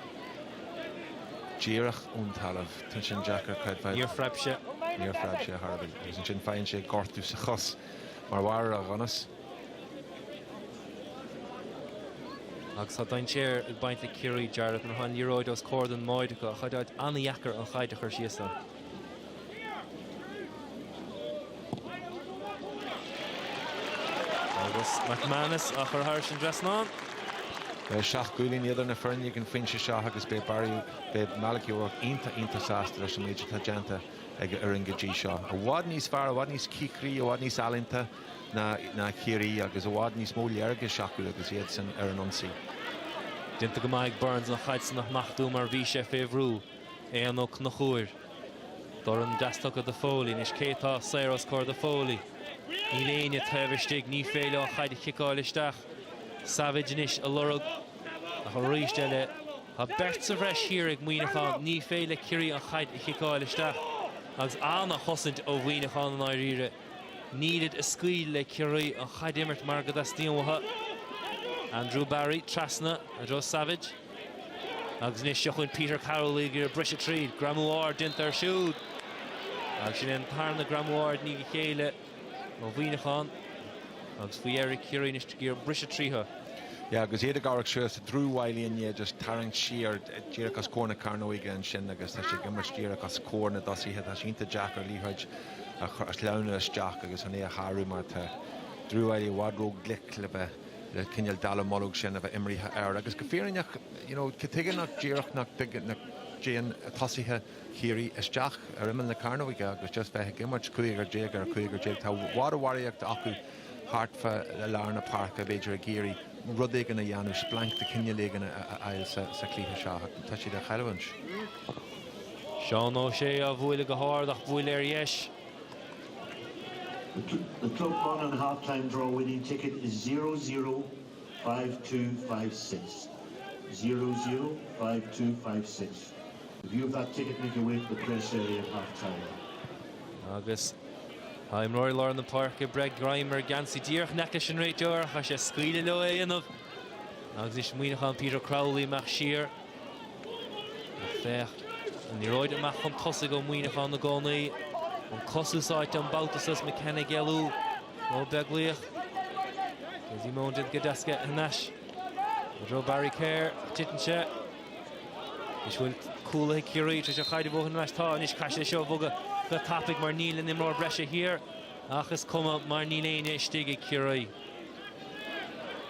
Díreach ón talamh. Tá sin deacair, creidfeá. Níor phreab sé. Níor phreab sé ar chor ar bith. Agus ansin faigheann sé gortú sa chos mar bharr ar a dhonas. Agus tá dainséar ag baint le Ciarraí, Jarlath. Nuair atá an liathróid os comhair don mbáide acu, tá sé ana-dheacair an chaid a chur síos ann. Agus McManus á chur thairis an trasnán. Seacht gcúilín idir na foirne ag an phointe seo agus beidh Barry Beidh Malachy O'Rourke iontach, iontach sásta leis an méid atá déanta ag a fhoireann go dtí seo. I bhfad níos fearr, i bhfad níos cíocraí, i bhfad níos ealaíonta ná Ciarraí agus i bhfad níos mó léargais acu agus iadsan ar an ionsaí. Déanta go maith ag Burns an chaid san a smachtú mar bhí sé fé bhrú. Éanna Ó Conchúir. Dorn deas tugtha do Foley. Anois cé tá saor os comhair do Foley? Níl éinne taobh istigh. Ní féidir leo an chaid a chiceáil isteach. Savage anois á lorg ach arís eile. Tá beirt sa bhreis thiar ag Muineachán, ní féidir le Ciarraí an chaid a chiceáil isteach agus ana-chosaint ó Mhuineachán. I ndáiríre, nílid ag scaoileadh le Ciarraí an chaid a imirt mar go dteastaíonn uathu. Andrew Barry, trasna, i dtreo Savage. Agus anois seo chugainn Peter Crowley, ag iarraidh briseadh tríd. Greamú ard déanta air siúd. Agus sin é an tarna greamú ard i ndiaidh a chéile. Ó Mhuineachán, agus faoi dheireadh Ciarraí anois ag iarraidh briseadh tríothu. Yeah, agus iad ag amharc síos tá Drew Wylie i ndiaidh just tarraingt siar díreach os comhair na cearnóige ansin agus tá sé ag imirt díreach os comhair na dtosaithe. Tá sé ionta deacair liathróid a shleamhnú isteach agus chun é a shárú mar tá Drew Wylie i bhfad róghlic le bheith le cineál dallamullóg sin a bheith imrithe air. Agus go fírinneach, you know, cad chuige nach díreach nach dtéann tosaithe Ciarraí isteach ar imeall na cearnóige agus just bheith ag imirt cúigear déag ar chúigear déag. Tá i bhfad a bharraíocht acu thart fá lár na páirce, b'fhéidir ag iarraidh rud éigin a dhéanamh, splanc de chineál éigin a fháil sa chluiche seo. Tá siad á chailliúint. Seán Ó Sé á bhualadh go hard ach á bhualadh ar dheis. The Club Monaghan half-time draw winning ticket is zero, zero. Five two five six. Zero zero five two five six. If you have that ticket make your way to the press area at half time. Agus tá imreoirí lár na páirce ag breith greim ar gheansaí díreach in aice leis an réiteoir, tá sé ag scaoileadh leo é a dhéanamh. Agus anois Muineachán, Peter Crowley amach siar. Ach féach, an liathróid amach chun tosaigh ó Mhuineachán i gcónaí. An cos úsáidte an babhta so is McKenna ag éalú ó Beaglaoich. Dessie Mone déanta go deas, caid thar n-ais i dtreo Barry Kerr. Titeann sé. Anois bhfuil cúlaithe Chiarraí tar éis an chaid a bhuachaint ar ais. Tá anois caithfidh sé seo a bhogadh go tapaidh mar níl an imreoir breise thiar ach is cuma mar níl éinne istigh ag Ciarraí.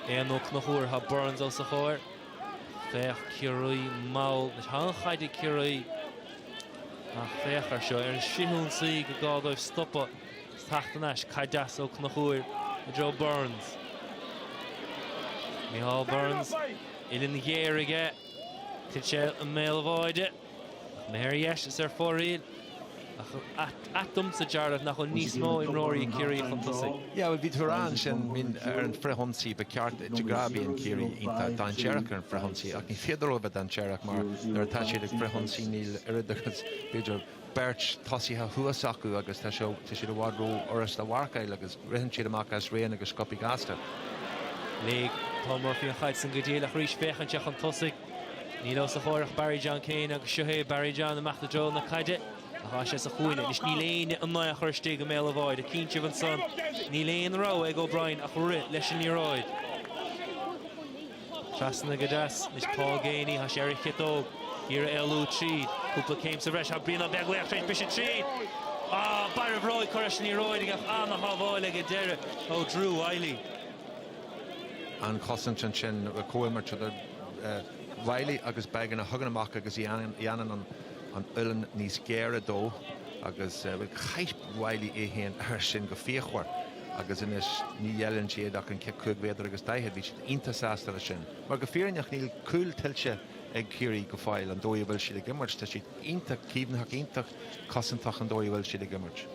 Éanna Ó Conchúir. Tá Burns os a chomhair. Féach Ciarraí mall. Tá an chaid ag Ciarraí. Ach féach air seo. Ar an frithionsaí go gá dóibh stopadh. Is teacht thar n-ais. Caid deas Ó Conchúir i dtreo Burns. Micheál Burns. Uillinn ghéar aige. Tig sé i mbéal an bháide. Imithe ar dheis is ar fóraoil. Ach ait domsa, Jarlath, nach bhfuil níos mó imreoirí Ciarraí chun tosaigh. Yeah, bhuel, bhí tú ag rá ansin, I mean, ar an frithionsaí ba cheart duit a rá. Bíonn Ciarraí iontach dainséarach ar an frithionsaí ach ní féidir leo a bheith dainséarach mar nuair atá siad ag frithionsaí níl oiread agus, b'fhéidir, beirt tosaithe thuas acu agus tá siad i bhfad ró-fhurasta a mharcáil agus ritheann siad amach as roghanna go sciobtha gasta. Léigh Paul Murphy an chaid san go diail ach arís féachann sé chun tosaigh. Níl os a chomhair ach Barry John Keane agus seo é Barry John amach i dtreo na caide ach tá sé sa chúinne anois. Níl éinne in ann é a chur istigh i mbéal an bháide. Ag cinntiú ansan. Níl aon rogha ag O'Brien ach rith leis an liathróid. Trasna go deas. Anois Paul Geaney, tá sé ar a chiotóg. Iarraidh éalú tríd. Cúpla céim sa bhreis. Tá Brian Ó Beaglaoich tar éis briseadh tríd. Á, barra a bhróige curtha leis an liathróid aige ach an-shábháil ag an deireadh ó Drew Wylie. an chosaint ansin le comhimirt idir Wylie agus Beggan a thagann amach agus a dhéanann an uillinn níos géire dó agus chaith Wylie é féin air sin go fíochmhar agus anois ní ghéilleann siad ach an cic cúig mhéadar agus daichead. Bhí siad iontach sásta leis sin mar go fírinneach níl cúl tuillte ag Ciarraí go fóill an dóigh a bhfuil siad ag imirt. Tá siad iontach caomhnaitheach, iontach cosantach an dóigh a bhfuil siad ag imirt.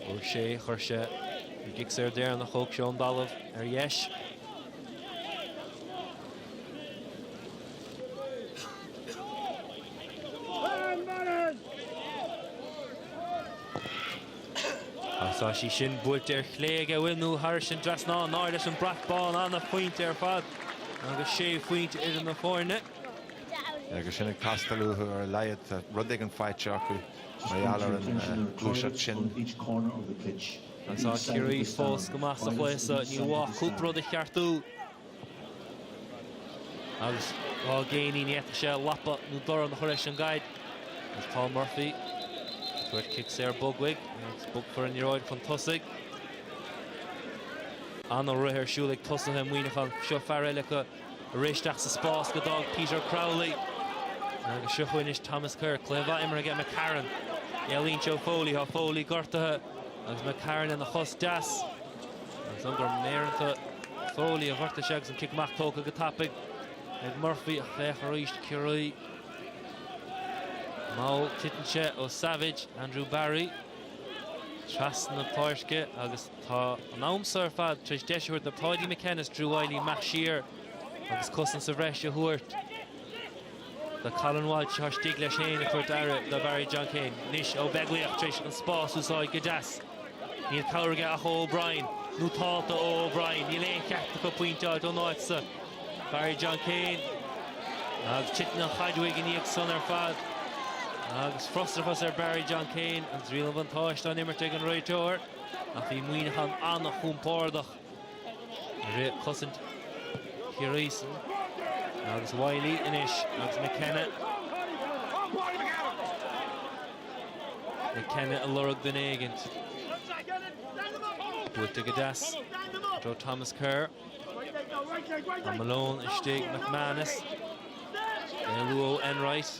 Chuir sé, chuir sé. An cic saor deireanach, thóg sé ón dtalamh ar dheis. Tá sí sin buailte ar chlé ag a mhiniú thairis an trasnán in airde leis an brat bán ana-phointe ar fad agus sé phointe idir na foirne. agus sin ag teastáil uathu ar a laghad tá rud éigin faighte acu mar gheall ar an ngluaiseacht sin. Anseo Ciarraí fós go maith sa chluiche so ní mhaith cúpla rud a cheartú agus Paul Geaney ní fhéadfadh sé lapa nó dorn a chur leis an gcaid agus Paul Murphy ag tabhairt cic saor bog uaidh agus bogfar an liathróid chun tosaigh. Ana-rith ar siúl ag tosaithe Muineachán. Seo fear eile acu. Ag rith isteach sa spás go d'fhág Peter Crowley. Agus seo chugainn anois Thomas Kerr. Cluiche mhaith imeartha aige McCarron. Éalaíonn sé ó Foley. Tá Foley gortaithe. Agus McCarron lena chos deas. Agus is dóigh gur méireanta Foley a ghortaigh sé agus an cic amach tógtha go tapaidh ag Murphy ach féach arís Ciarraí. Mall titeann sé ó Savage, Andrew Barry. Trasna na páirce agus Tá an am so ar fad tar éis deis a thabhairt do Paudie McKenna is Drew Wylie imeacht siar agus cosaint sa bhreis a thabhairt do Colin Walshe atá istigh leis féin ag tabhairt aire do Barry John Keane. Anois Ó Beaglaoich tar éis an spás a úsáid go deas. Níl cabhair aige ach O'Brien nó tálta ó O'Brien. Níl aon chead acu pointeáil ón áit sa. Barry John Keane agus titeann an chaid uaidh i ndiaidh san ar fad agus frustrachas ar Barry John Keane agus riail an bhuntáiste á imirt ag an réiteoir. ach bhí Muíneachán an-chompordach i rith cosaint Chiarraí san agus Wylie anois agus McKenna. McKenna ag lorg duine éigint. Buailte go deas do Thomas Kerr. Tá Malone istigh, McManus. In ann éalú ó Enright.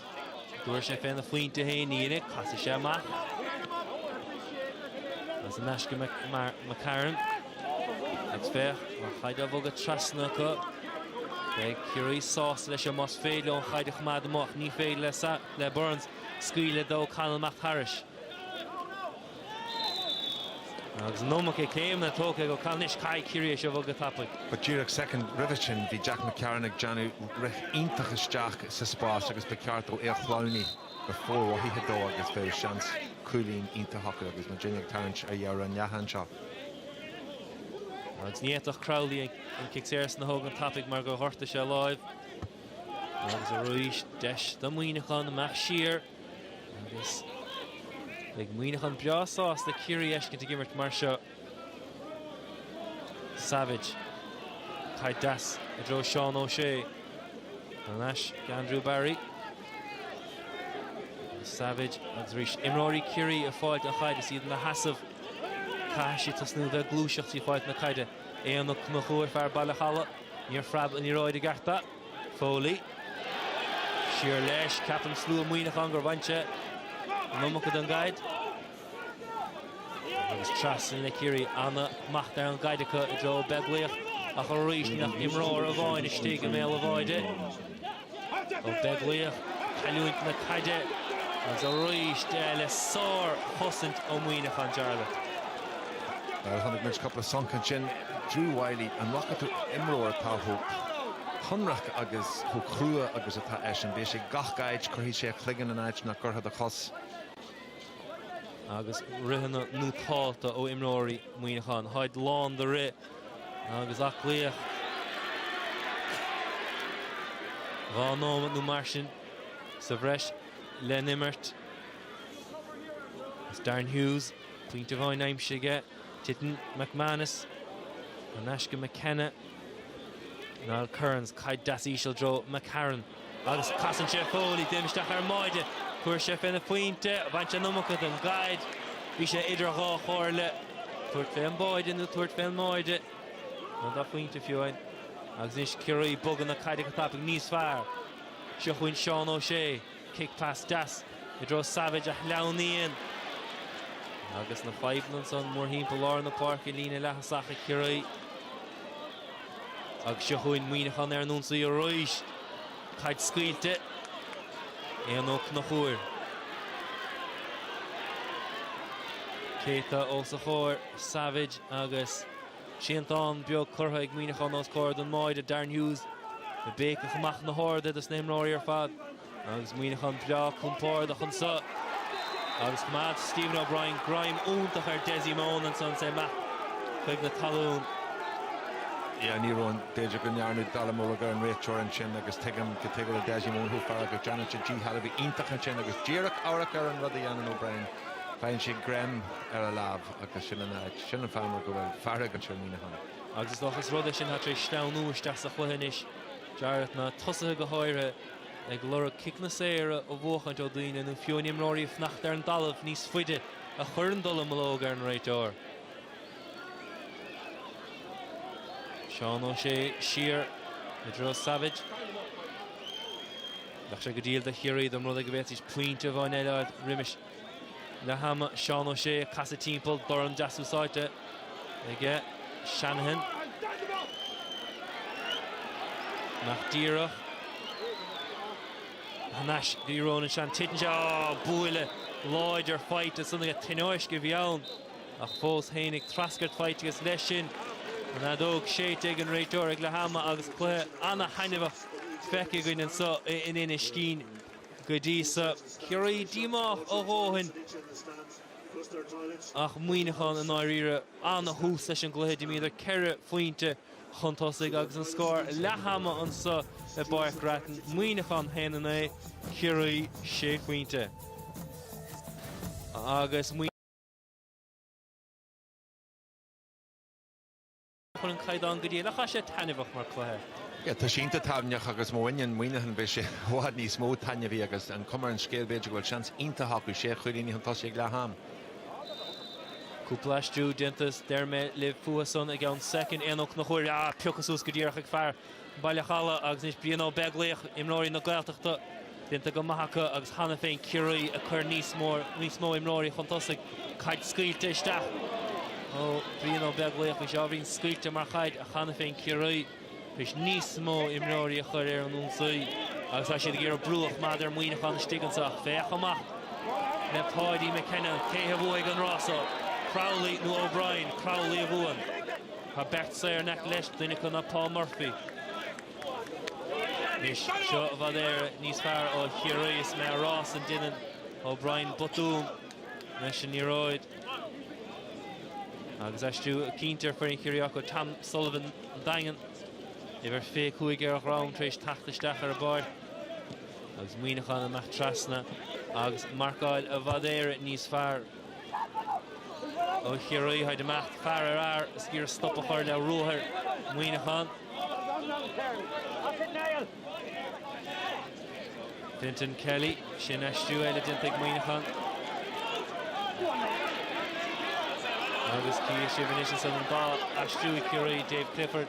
An dtabharfaidh sé féna phointe féin, ní thabharfaidh, casfaidh sé amach. Agus thar n-ais go McCarron. Agus féach, an chaid á bhogadh trasna acu. Beidh Ciarraí sásta leis an más féidir leo an chaid a choimeád amach. Ní féidir le Burns scaoileadh d'O'Connell amach thairis. Agus an iomarca céimeanna tógtha ag O'Connell anois, caithfidh Ciarraí é seo a bhogadh tapaidh. Ba díreach soicind roimhe sin bhí Jack McCarron ag déanamh rith iontach isteach sa spás agus ba cheart dó é a shleamhnú go formhothaithe dó agus bheadh seans cúilín iontach acu agus muid uilig ag tarraingt ar dheireadh an leatháin seo. Agus ní fhéadfadh Crowley an cic saor san a thógaint tapaidh mar gur ghortaigh sé a láimh. Agus arís deis do Muíneachán imeacht siar. Agus beidh Muíneachán breá sásta Ciarraí a fheiscint ag imirt mar seo. Savage. Caid dheas i dtreo Seán Ó Sé. Thar n-ais d'Andrew Barry. Savage agus arís imreoirí Ciarraí ag fáilt na caide is iad ina sheasamh. Caithfidh siad tosnú bheith ag gluaiseacht trí fáilt na caide. Éanna Ó Conchúir fear Bhaile an Chalaidh. Níor phreab an liathróid i gceart do. Foley. Siar leis. Ceapann slua Mhuineacháin gur bhain sé an iomarca den gcaid. Agus trasna le Ciarraí. An-smacht ar an gcaid acu i dtreo Beaglaoich ach arís níl ach imreoir amháin istigh i mbéal an bháide. Ó Beaglaoich ag cailliúint na caide agus arís le sár-chosaint ó Mhuineachán Jarlath. Chonaic muid cúpla sonc ansin. Drew Wylie, an bhfaca tú imreoir atá chomh hionraic agus chomh crua agus atá eisean? Bíonn sé ag gach áit, cuirfidh sé a chloigeann in áit nach gcuirfeá do chos. Agus ritheanna nótálta ó imreoirí Mhuineacháin. Táid lán de rith agus aclaíocht. Dhá nóimeat nó mar sin sa bhreis le n-imirt. Is Darren Hughes, pointe amháin aimsithe aige. Titeann McManus in aisce McKenna, Niall Kearns, caid deas íseal i dtreo McCarron agus casann sé Foley, déanamh isteach ar an mbáide, chuaigh sé féna phointe, baint an iomarca den gcaid, bhí sé idir dhá chomhairle, tabhairt fé an báide nó tabhairt fé an mbáide, nó dá phointe fiú amháin agus anois Ciarraí ag bogadh na caide go tapaidh níos fearr, seo chugainn Seán O'Shea. Kick pass deas i dtreo Savage a shleamhnaíonn agus na fadhbanna ansan mórthimpeall lár na páirce, líne leath-thosach ag Ciarraí agus seo chugainn Muineachán ar an ionsaí arís. Caid scaoilte Éanna Ó Conchúir. Cé atá os a chomhair, Savage agus. Triantán beag curtha ag Muineachán os comhair don mbáide, Darren Hughes ag béiceach amach na horduithe dos na himreoirí ar fad agus Muineachán breá compordach anso agus choimeád Stephen O'Brien greim iontach ar Dessie Mone ansan agus é amach chuig na talún. Yeah, ní raibh an, b'fhéidir go ndearnadh dallamullóg ar an réiteoir ansin agus tuigim cad chuige a bhfuil Dessie Mone chomh feargach, déanann sé a dhícheall a bheith iontach ansin agus díreach amharc ar an rud a dhéanann O'Brien, faigheann sé greim ar a lámh. Agus sin an áit, sin an fáth mar go bhfuil fearg ansin ar Mhuineachán. Agus is dócha is rud é sin atá tar éis sleamhnú isteach sa chluiche anois. Jarlath, na tosaithe go háirithe, ag lorg ciceanna saora a bhuachaint ó dhaoine nó fiú amháin imreoirí ag fanacht ar an dtalamh níos faide a chuireann dallamullóg ar an réiteoir. Seán Ó Sé siar i dtreo Savage. Bheadh sé go diail do Chiarraí dá mba rud é go bhféadfaidís pointe amháin eile a fháil roimis. Leathama Seán O'Shea ag casadh timpeall dorn deas úsáidte aige Shanahan. Amach díreach. Thar n-ais go dtí Ronan Shanahan. Titeann sé. Á! Buille láidir faighte ansan aige. Tionóisc a bhí ann ach fós féinig treascairt faighte agus leis sin an fheadóg séidte ag an réiteoir ag leathama agus cluiche an-thaitneamhach feicthe againn anso in Inis Caoin. Go dtí so, Ciarraí díomách a dhóthain ach Muineachán i ndáiríre. Ana-thús leis an gcluiche. D'imíodar ceithre phointe chun tosaigh agus an scór leathama anso i bPáirc Grattan, Muineachán 1 9, Ciarraí 6 phointe. Agus. Chun an Caighdeán go dtí le chaith sé taitneamhach mar chluiche. Ia, tá sé iontach taitneamhach agus má bhaineann Muineachán beidh sé i bhfad níos mó taitneamhaí agus an cuma ar an scéal b'fhéidir go bhfuil seans iontach acu, sé chúilíní chun tosaigh ag leath am. Cúpla aistriú déanta is déarfaidh mé libh fúthu san i gceann soicind. Éanna Ó Conchúir á piocadh suas go díreach ag fear Baile an Chalaidh agus anois Brian Ó Beaglaoich, imreoirí na Gaeltachta, déanta go maith acu agus cheana féin Ciarraí ag cur níos mó imreoirí chun tosaigh. Caid scaoilte isteach ó Bhrian Ó Beaglaoich. Bhí sé ábhairín scaoilte mar chaid ach cheana féin Ciarraí tar éis níos mó imreoirí a chur ar an ionsaí agus tá siad ag iarraidh brú a choimeád ar Mhuineachán istigh anseo ach féach amach le Paudie McKenna. Cé a bhuafaidh an rás so, Crowley nó O'Brien? Crowley a bhuann. Tá beirt saor in aice leis, duine acu ná Paul Murphy. Anois, seo i bhfad Éire níos fearr ó Chiarraí is mé á rá san. Déanann O'Brien botún leis an liathróid. Agus aistriú cinnte ar fhoireann Chiarraí acu, Tom Sullivan an Daingean. Uimhir 25 ar a dhrom tar éis teacht isteach ar an bpáirc. Agus Muineachán amach trasna agus marcáil i bhfad Éire níos fearr. ó Chiarraí, táid amach, fear ar fhear, is ag iarraidh stop a chur le ruathar Mhuineacháin. Fintan Kelly, sin aistriú eile déanta ag Muineachán. Agus cífidh sibh anois ansan an dá aistriú Ciarraí Dave Clifford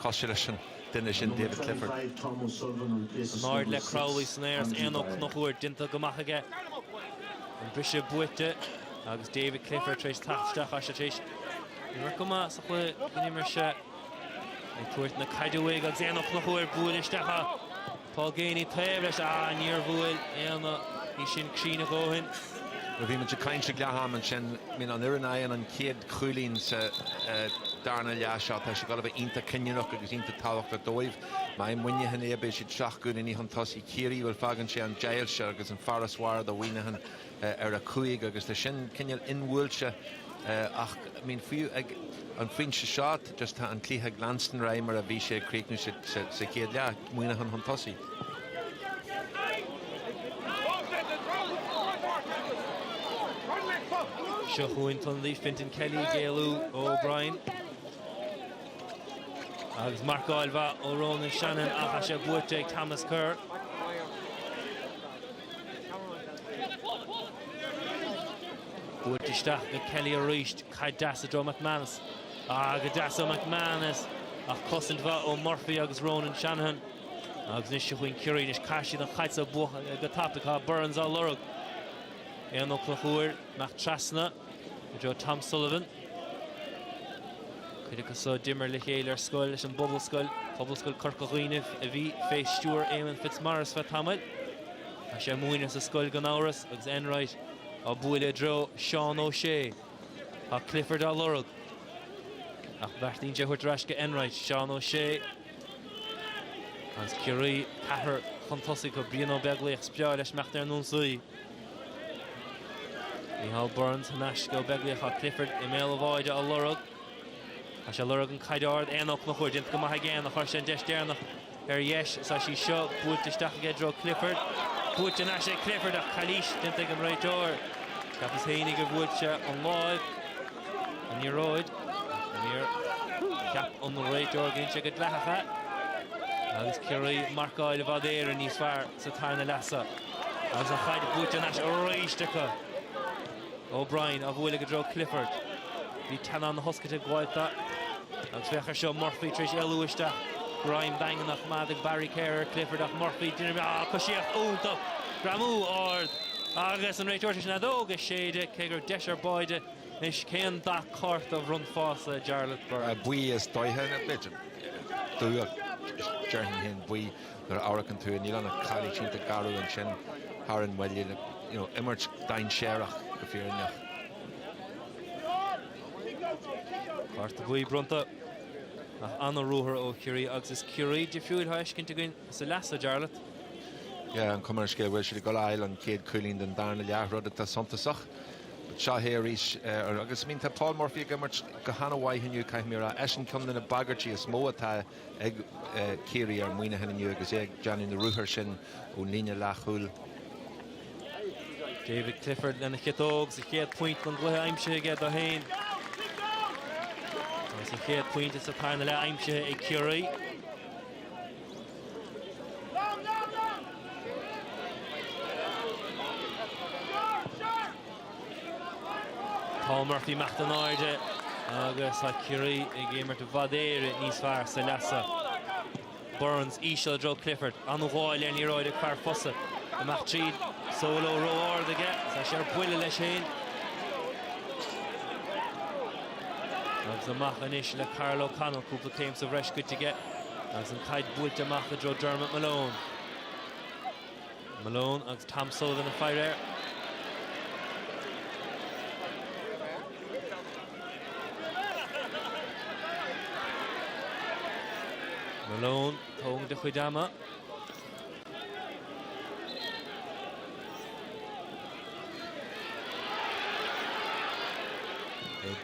Cosúil leis an duine sin David Clifford. In airde le Crowley san aer is Éanna Ó Conchúir déanta go maith aige. An briseadh buaite agus David Clifford tar éis teacht isteach is tar éis imirt go maith sa chluiche inar imir sé ag tabhairt na caide uaidh agus Éanna Ó Conchúir a bhuail isteach. Tá Geaney taobh leis. A, níor bhuail Éanna í sin cruinn a dhóthain. Nuair a bhí muid ag caint ag leath-am, ansin I mean an fhoireann a fhaigheann an chéad chúilín sa darna leath seo, tá siad ag dul a bheith iontach cinniúnach agus iontach tábhachtach dóibh. Más Muineachán é, beidh siad seacht gcúilíní chun tosaigh, Ciarraí, bhuel, fágann sé an deighilt seo agus an farasbarr do Mhuineachán ar a cúig agus tá sin cineál inbhuailte ach I mean fiú ag an phointe seo just tá an cluiche ag leanstan ar aghaidh mar a bhí sé ag críochnú sa chéad leath, Muineachán chun tosaigh. Seo chugainn Tonley, Fintan Kelly, ag éalú ó O'Brien agus marcáil mhaith ó Ronan Shanahan ach tá sé buaite ag Thomas Kerr. Buailte isteach ag Kelly arís, caid dheas i dtreo McManus. Ah, go deas ó McManus, ach cosaint mhaith ó Murphy agus Ronan Shanahan. Agus anois seo chugainn Ciarraí, anois caithfidh siad an chaid seo a bhogadh go tapaidh, tá Burns á lorg. Éanna Ó Conchúir, amach trasna. i dtreo Tom Sullivan. Cuid acu so d'imir le chéile ar scoil leis an bPobalscoil, Pobalscoil Corca Dhuibhne a bhí fé stiúir Éamonn Fitzmaurice feadh tamaill. Tá sé múineadh sa scoil gan amhras agus Enright á bualadh i dtreo Seán Ó Sé. Tá Clifford á lorg. Ach bheartaíonn sé a thabhairt ar ais go Enright, Seán Ó Sé. Agus Ciarraí ceathrar chun tosaigh acu, Brian Ó Beaglaoich is breá leis imeacht ar an ionsaí. Micheál Burns thar n-ais go Beaglaoich ach Clifford i mbéal an bháide á lorg. Tá sé a lorg an caid ard aon fhocal a thabhairt. Déanta go maith ag Geaney, chuir sé an deis deireanach ar dheis. Is í seo buailte isteach aige i dtreo Clifford. Buaite anois ag Clifford ach calaois déanta ag an réiteoir. Cheapas fhéinig gur bhuail sé an lámh ar an liathróid ach níor cheap an réiteoir gur dhein sé go dleathach é agus Ciarraí ag marcáil i bhfad Éireann níos fearr. sa tarna leath seo agus an chaid buaite anois arís acu. O'Brien á bualadh i dtreo Clifford. Bhí teannáin na hoscailte ag Wauta agus féach ar seo Murphy tar éis éalú isteach. Greim daingean á choimeád ag Barry Kerr ar Clifford ach Murphy d'imigh ah coisíocht iontach greamú ard agus an réiteoir tar éis an fheadóg a shéideadh cé go raibh deis ar báide anois cén dath cárta a bhronnfása Jarlath Burns? Buí is dócha nó b'fhéidir dubh ach déarfainn fhéin buí. Nuair a amharcann tú níl ann ach calaois déanta garbh ansin thar an mbaile, you know, imirt dainséarach go fírinneach. Cárta buí bronnta ach an-ruathar ó Chiarraí agus is Ciarraí difriúil atá á fheiscint againn sa leath so, Jarlath. Yeah, an chuma ar an scéal go bhfuil siad ag dul a fháil an chéad chúilín den darna leath, rud atá suntasach. Seo é arís, agus I mean tá Paul Murphy ag imirt go han-mhaith inniu caithfidh mé a rá. Eisean ceann de na bagairtí is mó atá ag Ciarraí ar Mhuineachán inniu agus é ag déanamh na ruathar sin ón líne leathchúil. David Clifford lena chiotóg, is an chéad phointe den gcluiche aimsithe aige do fhéin. Agus an chéad phointe sa tarna leath aimsithe ag Ciarraí. Paul Murphy amach don airde agus tá Ciarraí ag imirt i bhfad Éireann níos fearr sa leath so. Burns íseal i dtreo Clifford, an-ghabháil ar an liathróid ag fear Fosa. Amach tríd, Solo ró-ard aige, tá sé ar buile leis féin. Agus amach anois le Karl O'Connell, cúpla céim sa bhreis goite aige agus an caid buailte amach i dtreo Dermot Malone. Malone agus Tom Sullivan ag faire air. Malone tóg do chuid ama.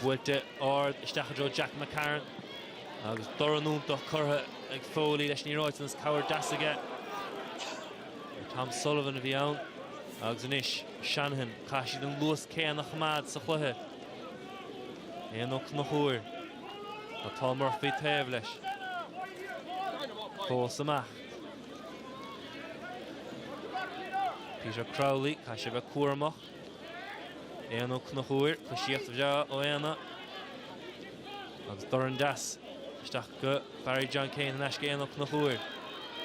Buailte ard isteach i dtreo Jack McCarron. Agus dorn iontach curtha ag Foley leis an liathróid agus cabhair deas aige. Tom Sullivan a bhí ann. Agus anois Shanahan, caithfidh siad an luas céanna a choimeád sa chluiche. Éanna Ó Conchúir. Tá Paul Murphy taobh leis. Fós amach. Peter Crowley, caithfidh sé bheith cúramach. Éanna Ó Conchúir, coisíocht bhreá ó Éanna agus dorn deas isteach go Barry John Keane thar n-ais go Éanna Ó Conchúir.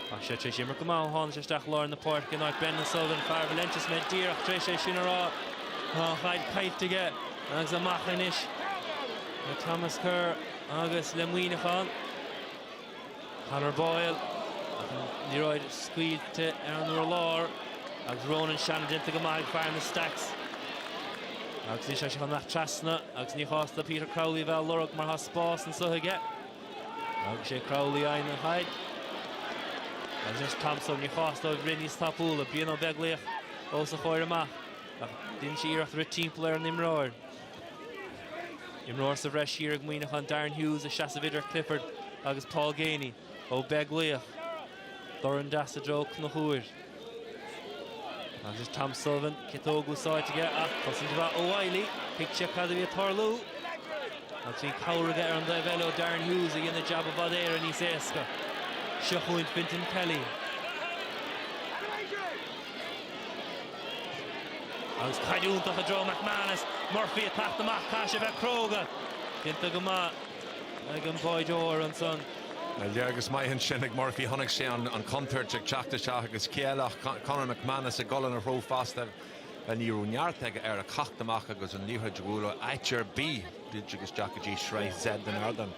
Tá sé tréis imirt go maith ó tháinig sé isteach lár na páirce in áit Brendan Sullivan, fear Valentia is mé díreach tréis é sin a rá. Tá an chaid caillte aige agus amach anois le Thomas Kerr agus le Muineachán. Conor Boyle, an liathróid scaoilte ar an urlár agus Ronan Shanahan déanta go maith ag fear na Stacks. Agus anois féachann amach trasna agus ní chás do Peter Crowley a bheith á lorg mar thá spás ansúd aige. Agus is é Crowley a fhaigheann an chaid. Agus anois Tom Sullivan, ní chás dó rith níos tapúla. Brian Ó Beaglaoich os a chomhair amach ach deineann sé iarracht a rith timpeall ar an imreoir. Imreoir sa bhreis thiar ag Muineachán, Darren Hughes, ag seasamh idir Clifford agus Paul Geaney, Ó Beaglaoich. Dorn deas i dtreo Ó Conchúir. Agus Tom Sullivan, ciotóg úsáidte aige, ach cosaint mhaith ó Wylie, thuig sé cad a bhí ag tarlú. Agus bhí cabhair aige ar an dtaobh eile ó Darren Hughes a dhein an jab i bhfad Éireann níos éasca. Seo chugainn Fintan Kelly. Agus caid iontach i dtreo McManus. Murphy ag teacht amach, caithfidh sé a bheith cróga. Déanta go maith ag an mbáideoir ansan. Léargas maith ansin ag Murphy. Chonaic sé an chontúirt ag teacht isteach agus cé eile ach Conor McManus ag dul ina threo fosta. Ní raibh neart aige air a theacht amach agus an liathróid a bhualadh áit ar bith. Druid agus isteach go dtí sraith Z den ardán.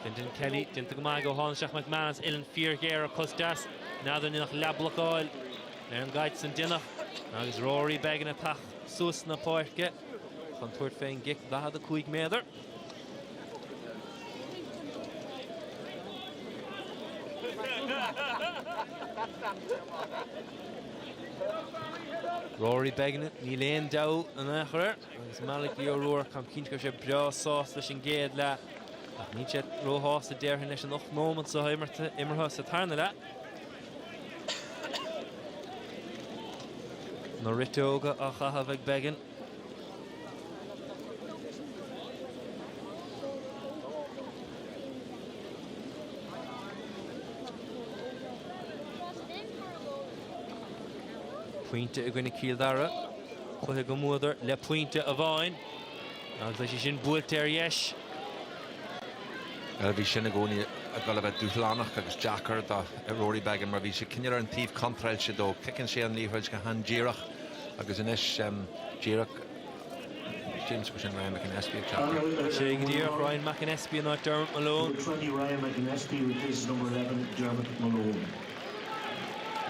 Fintan Kelly, déanta go maith aige ó tháinig isteach McManus. Uileann fíor-ghéar ar cos deas. N'fheadar, níl ach leathbhlocáil. Ar an gcaid san deineadh agus Rory Beggan ag teacht suas na páirce chun tabhairt fén gcic 45 méadar. Rory Beggan níl aon deabhadh in aon chor air agus Malachy O'Rourke táim cinnte go raibh sé breá sásta leis an gcéad leath ach níl sé róshásta déarfainn leis an ocht móimint seo imeartha sa tarna leath. Na riteoga á chaitheamh ag Beggan. Pointe i gcoinne Cill Dara. Cluiche go mbuadar le pointe amháin. Agus leis sin buailte ar dheis. Bhuel, bhí sin i gcónaí ag dul a bheith dúshlánach agus deacair do Rory Beggan mar bhí sé cineál ar an taobh contráilte dó. Ciceann sé an liathróid go han-díreach agus anois díreach, James, go sin Ryan McAnespie ag teacht air. Sin é go díreach, Ryan McAnespie in áit Dermot Malone.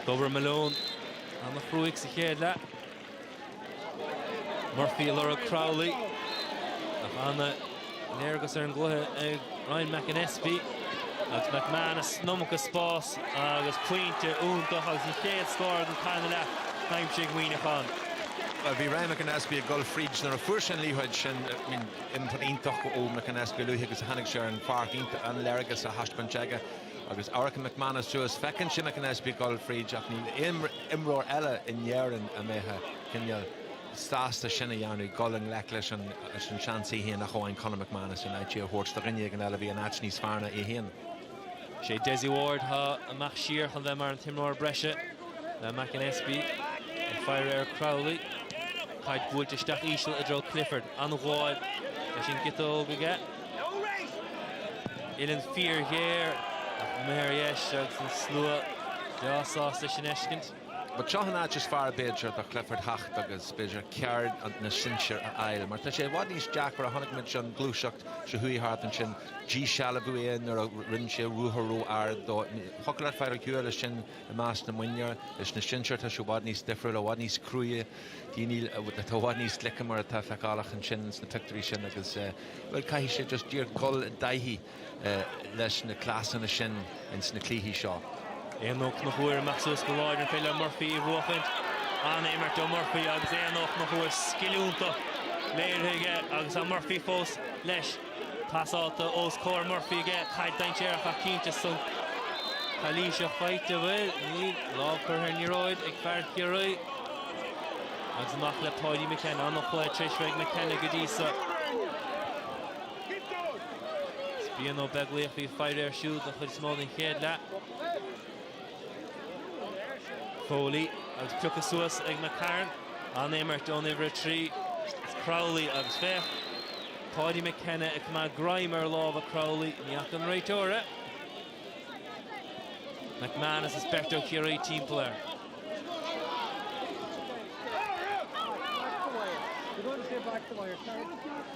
D'oibrigh Malone ana chruaidh sa chéad leath. Murphy ag lorg Crowley ach ana léargas ar an gcluiche ag Ryan McAnespie agus McManus an iomarca spáis agus pointe iontach agus an chéad scór den tarna leath aimsithe ag Muineachán. Well, bhí Ryan McAnespie ag dul fríd nuair a fuair sé an liathróid sin I mean, imirt iontach ó McAnespie luaithe agus a tháinig sé ar an pháirc, an léargas á thaispeáint aige. Agus amharcann McManus suas, feiceann sé McAnespie ag dul fríd ach níl aon imreoir eile in Éirinn a mbeadh cineál sásta sin a dhéanamh, dul i ngleic leis an seans é féin ach amháin Conor McManus in áit é a thabhairt do dhuine éigin eile a bhí in áit níos fearr ná é féin. Sé Dessie Ward atá amach siar chun bheith mar an t-imreoir breise le McAnespie ag faire ar Crowley. Caid buailte isteach iseal i dtreo Clifford. An-ghabháil leis an gciotóg aige. Uilleann fíor-ghéar ach amuigh ar dheis agus an slua breá sásta é sin a fheiscint. But seo an áit is fearr b'fhéidir do Clifford a theacht agus b'fhéidir ceard na sinsear a fháil. Mar tá sé i bhfad níos deacra, chonaic muid an ghluaiseacht seo a chuaigh thart ansin, díshealbhaíodh é nuair a rinn sé ruathar ró ard dó. Thiocfadh leat fáil ar shiúl leis sin i measc na mionúr. Leis na sinsear tá sé i bhfad níos difriúil, i bhfad níos cruaidhe. Daoine atá i bhfad níos glice mar atá feiceálach ansin sna pictiúirí sin agus, bhuel, caithfidh sé just díreach dul i dtaithí leis na cleasanna sin ins na cluichí seo. Éanna Ó Conchúir amach suas go láidir ní féidir le Murphy í a bhuachaint. An-imirt ó Murphy agus Éanna Ó Conchúir scil iontach léirithe aige agus tá Murphy fós leis. Pasáilte os comhair Murphy aige, caid dainséarach ach cinnte ansan calaois faighte, an bhfuil? Níl. Lámh curtha ar liathróid ag fear Chiarraí agus amach le Paudie McKenna. An-chluiche tar éis bheith ag McKenna go dtí so. Is Brian Ó Beaglaoich a bhí ag faire air siúd don chuid is mó den chéad leath. Foley agus piocadh suas ag McCarron. An-imirt ón uimhir 3, Crowley agus féach, Paudie McKenna ag coimeád greim ar lámha Crowley, ní fhaca an réiteoir é. McManus is beirt ó Chiarraí timpeall air.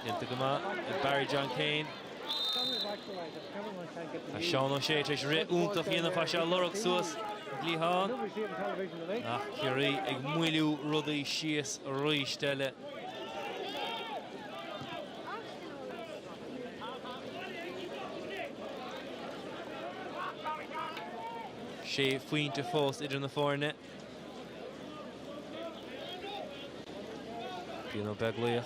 Déanta go maith ag Barry John Keane. Tá Seán Ó Sé tar éis rith iontach a dhéanamh, tá sé á lorg suas ón gcliathán ach Ciarraí ag moilliú rudaí síos arís eile. Sé phointe fós idir na foirne. Cian Ó Beaglaoich,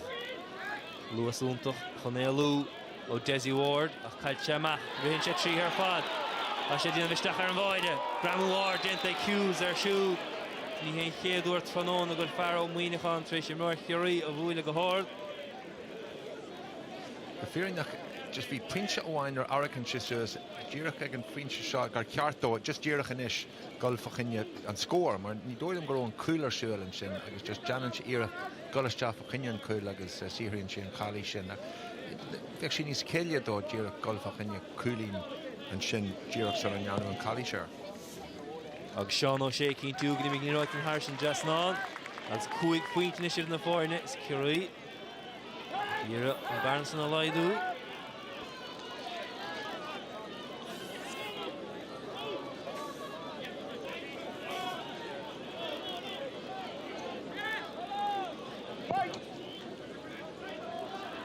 luas iontach chun éalú ó Dessie Ward ach caillfidh sé amach, ritheann sé tríd ar fad. Tá sé ag déanamh isteach ar an bháire, greamú ard déanta ag Hughes air siúd. Ní hé an chéad uair tráthnóna a bhfuil fear ó Mhuineachán tar éis imreoir Chiarraí a bhualadh go hard. Go fírinneach just bhí pointe amháin ar a rachainnse díreach ag an phointe seo gur cheart dó, just díreach anois. gol fa choinne an scór mar ní dóigh liom go raibh an cúl ar siúl ansin agus just déanann sé iarracht gol isteach fa choinne an cúl agus saothraíonn sé an calaois sin ach bheadh sé níos céille dó díreach gol fa choinne cúilín ansin díreach sula ndearnadh an calaois air. Agus Seán Ó Sé ag cinntiú go n-imíonn an liathróid thar an dtrasnán, agus cúig phointe anois idir na foirne, is Ciarraí. Ag iarraidh an bearna san a laghdú.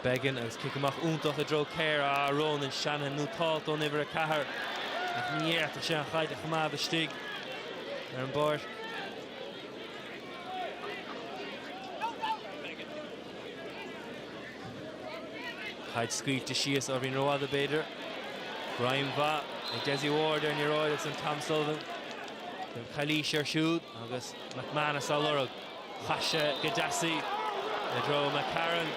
Beggan agus cic amach iontach i dtreo Carey. Ah, Ronan Shanahan nótálta ón uimhir 4. Ach ní fhéadfadh sé an chaid a choimeád istigh ar an bpáirc. Caid scaoilte síos, beagáinín rófhada b'fhéidir. Greim mhaith ag Desi Ward ar an liathróid agus ansan Tom Sullivan déanann calaois ar siúd agus McManus á lorg. Chaith sé go deas í i dtreo McCarron.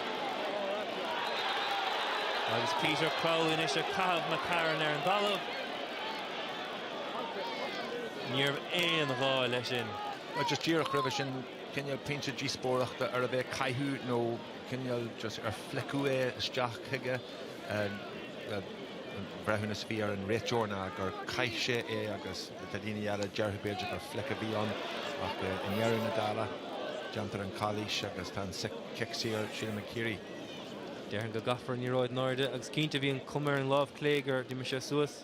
Agus Peter Crowley anois ag caitheamh McCarron ar an dtalamh. Níorbh aon ghá le sin. Nó just díreach roimhe sin cineál pointe díospóireachta arbh é caitheamh nó cineál just ar flickeadh é isteach chuige an breithiúnas a bhí ag an réiteoir ná gur chaith sé é agus tá daoine eile a déarfadh b'fhéidir gur flick a bhí ann ach i ndeireadh na dála déantar an chalaois agus tá an cic saor sílim ag Ciarraí. Déarfainn go gcaithfear an liathróid in airde agus cinnte bhí an chuma ar an lámh chlé gur d'imigh sé suas.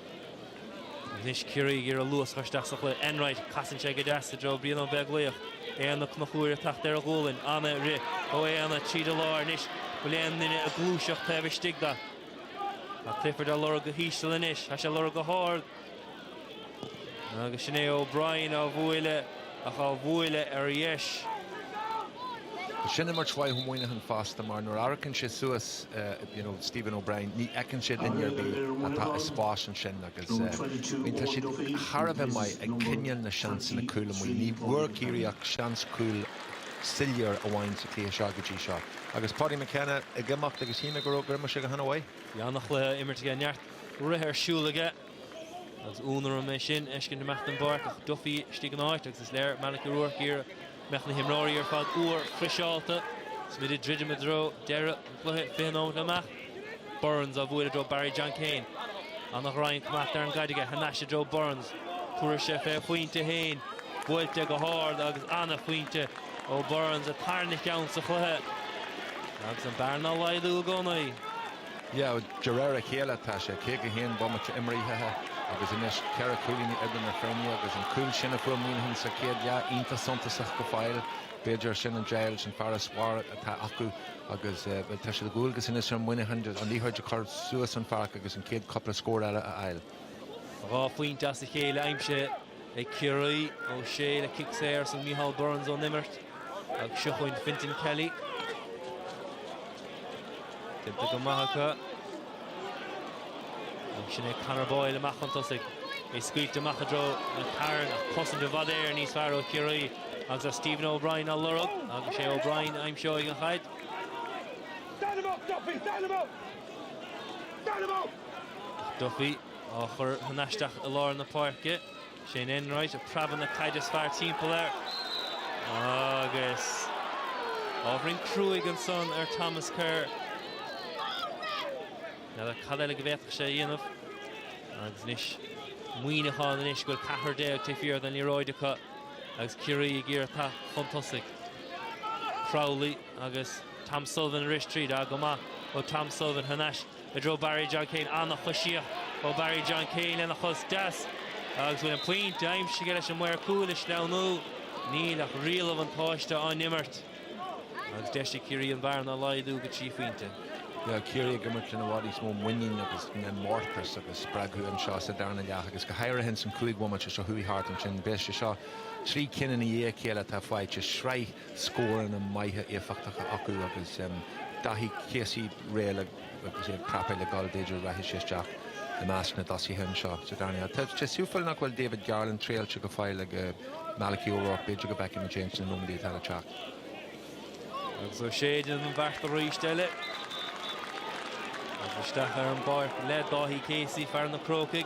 Anois Ciarraí ag iarraidh luas a chur isteach sa chluiche. Enright, casann sé go deas i dtreo Brian Ó Beaglaoich. Éanna Ó Conchúir ag teacht ar a ghualainn. Ana-rith ó Éanna tríd an lár anois. Bhfuil aon duine ag gluaiseacht taobh istigh de. Tá Clifford á lorg go híseal anois. Tá sé á lorg go hard. Agus sin é O'Brien á bhualadh. ach á bhualadh ar dheis. Sin imirt mhaith ó Mhuineachán fosta mar nuair amharcann sé suas at, you know, Stephen O'Brien ní fheiceann sé duine ar bith atá i spás ansin agus, I mean, tá siad thar a bheith maith ag coinneáil na seansanna cúil amuigh. Ní bhfuair Ciarraí ach seans cúil soiléir amháin sa chluiche seo go dtí seo. Agus Paudie McKenna ag imeacht agus shíl mé go, gur imir sé go han-mhaith. Bhí an-chluiche á imirt aige, neart rith ar siúl aige. Agus ionadh orm é sin a fheiscint ag imeacht den bpáirc ach Duffy istigh ina áit agus is léir Malachy O'Rourke ag iarraidh go mbeadh na himreoirí ar fad úr friseálta. Is muid ag druidim i dtreo deireadh an chluiche, fiche nóimeat amach. Burns á bhualadh i dtreo Barry John Keane. Ana-ghreim chomh maith ar an gcaid aige, thar n-ais i dtreo Burns. Tabharfaidh sé fé a phointe fhéin. Buailte go hard agus ana phointe ó Burns, an tarna cheann sa chluiche. Agus an bearna á laghdú i gcónaí. Yeah, de réir a chéile tá sé 51 bomaite imrithe agus anois ceithre cúilíní idir na foirne agus an cúl sin a fuair Muineachán sa chéad leath iontach suntasach go fóill. B'fhéidir sin an deighilt, an farasbarr atá acu agus bhuel, tá sé de dhualgas anois ar Mhuineachán an liathróid a chur suas an pháirc agus an chéad chúpla scór eile a fháil. Dhá phointe as a chéile aimsithe ag Ciarraí. Ó Sé le cic saor ansan, Micheál Burns ón imirt agus seo chugainn Fintan Kelly. Déanta go maith acu. Agus sin é Conor Boyle amach chun tosaigh. É scaoilte amach i dtreo McCarron ach cosaint i bhfad Éireann níos fearr ó Chiarraí agus tá Stephen O'Brien á lorg agus sé O'Brien a aimseoidh an chaid. Duffy Á chur thar n-ais isteach i lár na páirce. Shane Enright ag preabadh na caide is fearr timpeall air. Agus ábhairín cruaigh ansan ar Thomas Kerr. N'fheadar cad eile go bhféadfadh sé a dhéanamh. Agus anois Muineachán anois go bhfuil ceathrar déag taobh thiar den liathróid acu agus Ciarraí ag iarraidh teacht chun tosaigh. Crowley agus Tom Sullivan arís tríd. Á go maith ó Tom Sullivan thar n-ais. i dtreo Barry John Keane. An-choisíocht ó Barry John Keane lena chos deas agus bhfuil an pointe aimsithe aige leis an maor cúil ag sleamhnú. Níl ach riail an bhuntáiste á n-imirt agus deis ag Ciarraí an bhearna a laghdú go trí phointe. Yeah, Ciarraí ag imirt lena bhfad níos mó muiníne agus mórtas agus spreagtha anseo sa darna leath agus go háirithe ins an chúig bhomaite seo chuaigh thart ansin. Beidh sé seo trí cinn ina dhiaidh a chéile atá faighte, sraith scóranna maithe éifeachtacha acu agus Daithí Casey réidh le agus é craptha le gabháil b'fhéidir rachaidh sé isteach i measc na dtosaithe anseo sa darna leath. Tá sé suimiúil nach bhfuil David Garland triailte go fóill ag Malachy O'Rourke b'fhéidir go bhfeicfimid é ins na nóimeadaí atá le teacht. Agus Ó Sé déanann an bheart arís eile. Agus isteach ar an bpáirc le Dáithí Casey, fear na Crócaigh.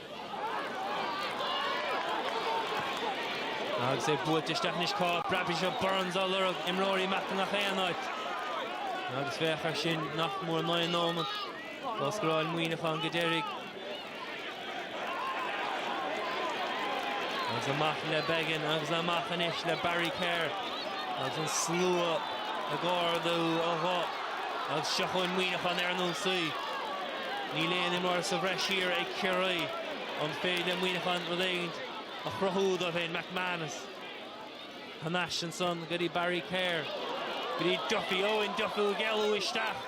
Agus é buailte isteach anois cá rachaidh seo Burns á lorg, imreoirí amach i ngach aon áit. Agus féach ar sin nach mór naoi nóimead ó scóráil Muineachán go deiridh. Agus amach le Beggan agus amach anois le Barry Kerr agus an slua ag ardú a ghuth agus seo chugainn Muineachán ar an ionsaí. Níl aon imreoir sa bhreis thiar ag Ciarraí. An féidir le Muineachán rud éigin a chruthú dóibh féin? McManus thar n-ais ansan go dtí Barry Kerr, go dtí Duffy, Eoin Duffy ag éalú isteach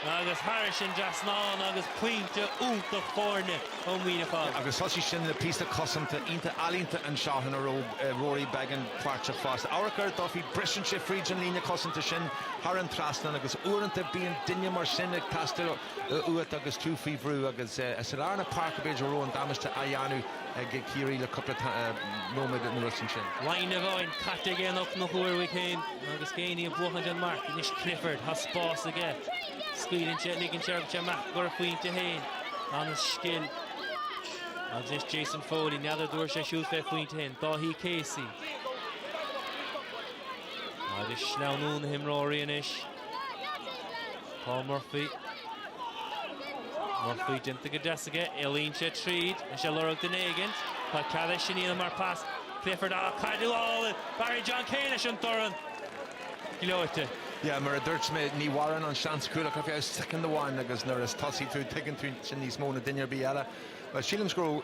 agus thairis an dtrasnán agus pointe iontach foirne ó Mhuineachán. Agus thosaigh sin le píosa cosanta iontach ealaíonta anseo ina raibh Rory Beggan páirteach fosta. Amharc ar Duffy, briseann sé fríd an líne cosanta sin thar an trasnán agus uaireanta bíonn duine mar sin ag teastáil ó. uait agus tú faoi bhrú agus sa lár na páirce b'fhéidir raibh an damáiste á dhéanamh ag Ciarraí le cúpla nóiméad anuas ansin. Lámhainn amháin caite ag Éanna Ó Conchúir féin agus Geaney ag buachaint an marc. Anois Clifford, tá spás aige. Scaoileann sé, ligeann sé agus sé amach i gcomhair phointe féin. An-scil. Agus anois Jason Foley, n'fheadar dtabharfaidh sé siúd fé phointe féin. Dáithí Casey. Agus sleamhnú na himreoirí anois. Paul Murphy. Murphy déanta go deas aige, éalaíonn sé tríd, tá sé ag lorg duine éigint, ach cad é sin mar phas Clifford an chaid á fáil, Barry John Keane leis an dorn. Gleoite. Yeah, mar a dúirt mé, ní mhaireann an seans cúil ach faoi second amháin agus nuair is tosaí tú tuigeann tú sin níos mó ná duine ar bith eile. Well, sílim go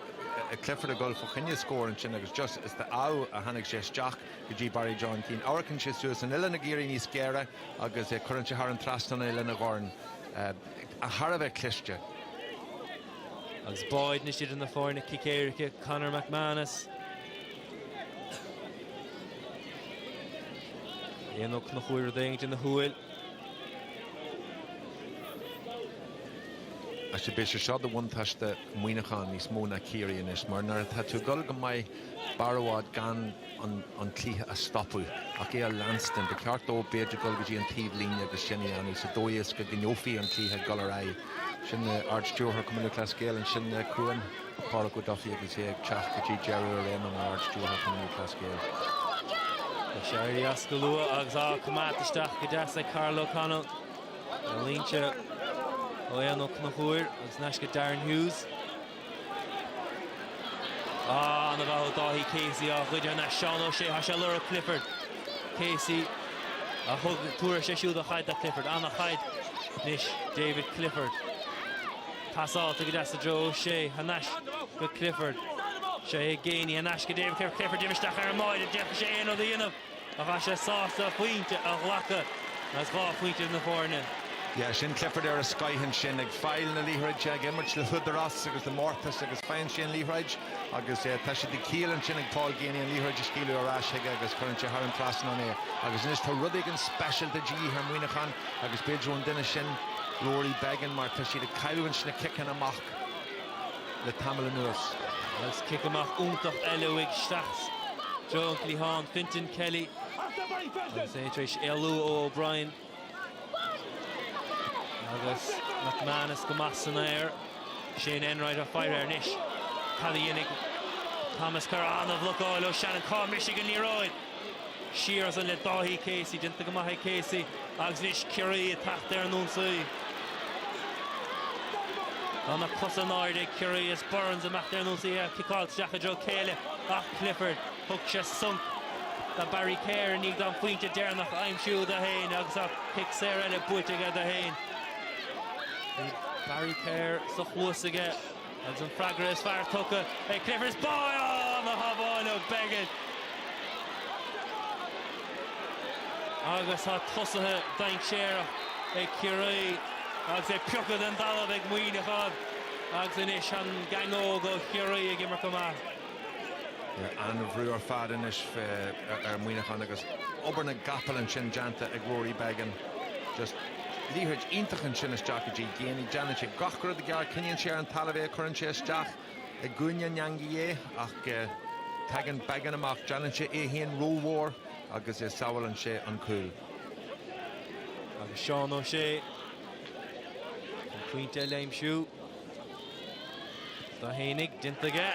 raibh Clifford ag gabháil fá choinne scór ansin agus just is de ádh a tháinig sé isteach. go dtí Barry John Keane. Amharcann sé suas an uillinn ag éirí níos géire agus cuireann sé thar an trasnán í lena dhorn thar a bheith cliste. Agus pointe anois idir na foirne, cic éirice, Conor McManus. Éanna Ó Conchúir rud éigin ina shúil. Sea, beidh sé seo do bhuntáiste Muineacháin níos mó ná Ciarraí anois mar nuair atá tú ag dul go maith b'fhearr duit gan an cluiche a stopadh ach é a leanstan. Ba cheart dó b'fhéidir dul go dtí an taobh líne agus sin a dhéanamh sa dóigh is go gcoinneofaí an cluiche ag dul ar aghaidh. Sin Ard Stiúrthóir Chumann Lúthchleas Gael ansin chughainn, Pádraig Ó Dufaigh agus é ag teacht go dtí deireadh a réime mar Ard Stiúrthóir Chumann Lúthchleas Gael. Tá sé ag éirí as go luath agus á choimeád isteach go deas ag Karl O Connell. Líonta ó Eoin Ó Conchúir agus nasc go Darren Hughes. Ana-mhaith ó Dáithí Casey á ghoid thar n-ais Seán Ó Sé, tá sé á lorg Clifford. Casey a thug, tabharfaidh sé siúd a chaid do Clifford, an chaid anois David Clifford. Pasáilte go deas i dtreo Ó Sé, thar n-ais go Clifford. Sé Geaney thar n-ais go David Clifford, Clifford imithe isteach orm agus, d'fhéadfadh sé aon rud a dhéanamh. Ach bhí sé sásta pointe a ghlacadh is dhá phointe idir na foirne. Yeah, sin Clifford ar a scoth ansin ag fáil na liathróide ag imirt le húdaras agus le mórtas agus faigheann sé an liathróid agus eh, tá sé de chiall ansin ag Paul Geaney an liathróid a scaoileadh ar ais chuige agus cuireann sé thar an trasnán é agus anois tá rud éigin speisialta de dhíth ar Mhuineachán agus b'fhéidir ón duine sin Rory Beggan mar tá siad ag cailleadh sna ciceanna amach le tamall anuas. Agus cic amach iontach eile uaidh isteach i dtreo an chliatháin, Fintan Kelly, agus é tar éis éalú ó O'Brien. Agus McManus go maith san aer. Shane Enright ag faire air anois. Cad a dhéanfaidh Thomas Kerr? An-bhlocáil ó Shannon. Cá mbrisfidh an liathróid? Siar as sin le Dáithí Casey, déanta go maith ag Casey agus anois Ciarraí ag teacht ar an ionsaí. Tá na cosa in airde ag Ciarraí is Burns ag imeacht ar an ionsaí é ciceáil isteach i dtreo a chéile ach Clifford. Thug sé sonc do Barry Kerr i ndiaidh dó an pointe deireanach a aimsiú do fhéin agus tá cic saor eile buaite aige dó fhéin. Bhí Barry Kerr sa chluas aige. Agus an freagra is fearr tugtha ag Clifford is ba mhaith an tsábháil ó Beggan. Agus tá tosaithe dainséarach ag Ciarraí agus é pioctha den dtalamh ag Muineachán agus anois an gang óg ó Chiarraí ag imirt go maith. An-bhrú ar fad anois ar Mhuineachán agus obair na gcapall ansin déanta ag Rory Beggan. liathróid iontach ansin isteach go dtí Geaney. Déanann sé gach rud i gceart. Coinníonn sé ar an talamh é, cuireann sé isteach i gcúinne na heangaí é ach tagann Beggan amach. Déanann sé é féin rómhór agus sábhálann sé an cúl. Agus Seán Ó Sé chun pointe eile a aimsiú. Do tháinig, déanta aige,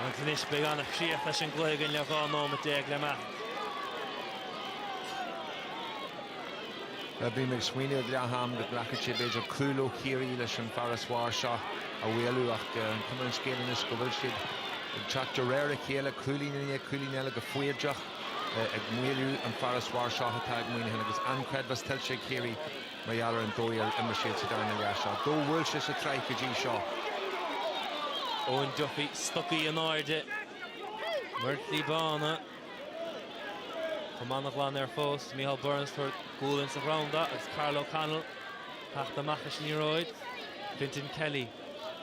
agus anois beidh an-chríoch leis an gcluiche againn le 12 nóimeat le himeacht. Bhí mé ag smaoineamh ag leath-am go nglacfadh sé b'fhéidir cúl ó Chiarraí leis an farasbarr seo a mhaolú ach cuma ar an scéal anois go bhfuil siad ag teacht de réir a chéile, cúilín i ndiaidh cúilín eile go foighdeach ag maolú an farasbarr seo atá ag Muineachán agus an-chreidmheas tuillte ag Ciarraí. Mar gheall ar an dóigh ar imir siad sa darna leath seo, dó bhuail sé sa tsraith go dtí seo. Owen Duffy, stocaí in airde, muinchillí bána. Cuma ana-ghlan air fós, Micheál Burns tabhairt gualainn sách gránna agus Karl O'Connell teacht amach leis an liathróid. Fintan Kelly.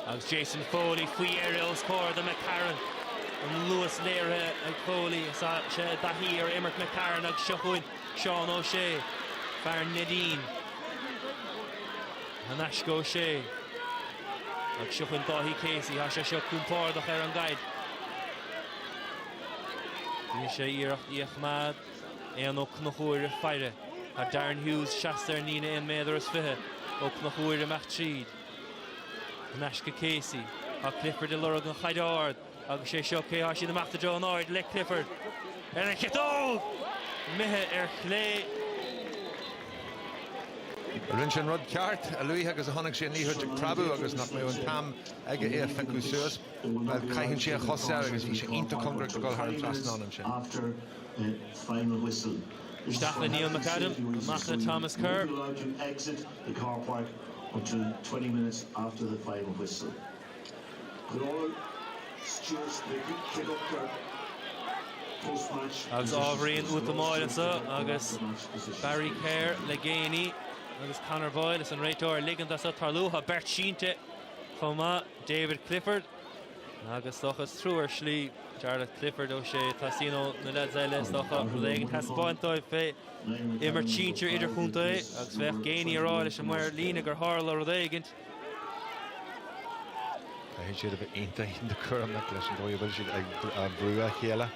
Agus Jason Foley faoi dheireadh os comhair do McCarron. An luas léirithe ag Foley is tá sé i dtaithí ar imirt McCarron agus seo chugainn Seán O'Shea, fear Neidín. Thar n-ais go O'Shea. Agus seo chugainn Dáithí Casey, tá sé seo compordach ar an gcaid. Deineann sé iarracht í a choimeád. Éanna Ó Conchúir ag faire. Tá Darren Hughes seasta ar an líne aon méadar is fiche. Ó Conchúir amach tríd. Thar n-ais go Casey. Tá Clifford ag lorg an chaid ard agus sé seo cé tá siad amach i dtreo, in airde le Clifford ar an chiotóg! Imithe ar chlé. Rinne sé an rud ceart a luaithe agus a chonaic sé an liathróid ag preabadh agus nach mbeadh an t-am aige é a phiocadh suas, bhuel, caitheann sé a chos air agus bhí sé iontach cóngarach do dhul thar an trasnán ansin. Isteach le Neil McAdam, amach le Thomas Kerr. the car park until twenty minutes after the final whistle Could all stewards pick up their post-match Agus ábhairín útamáil anseo agus Barry Kerr le Geaney agus Conor Boyle is an réiteoir ag ligint dó seo tarlú. Tá beirt sínte chomh maith, David Clifford agus dócha is trua ar shlí Jarlath Clifford O'Shea, teastaíonn ó na leaids eile is dócha rud éigin taispeáint dóibh fé imirt sinsir idirchontae agus bhí Geaney á rá leis an maor líne gur tharla rud éigin. Caithfidh siad a bheith iontach cúramach leis an dóigh a bhfuil siad ag brú a chéile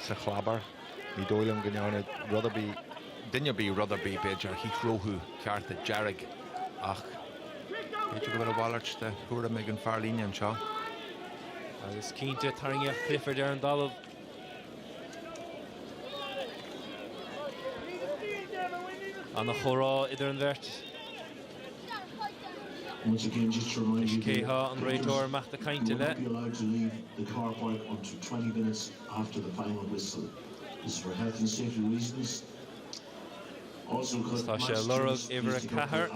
sa chlábar. Ní dóigh liom go ndearna rud ar bith, duine ar bith rud ar bith b'fhéidir a shaothródh cárta dearg ach b'fhéidir go bhfuil a mhalairt de thuairim ag an fear líne anseo. Agus cinnte tarraingíodh Clifford ar an dtalamh. Ana chomhrá idir an bheirt. Anois cé hé an réiteoir amach ag caint le? Is tá sé ag lorg uimhir a ceathair,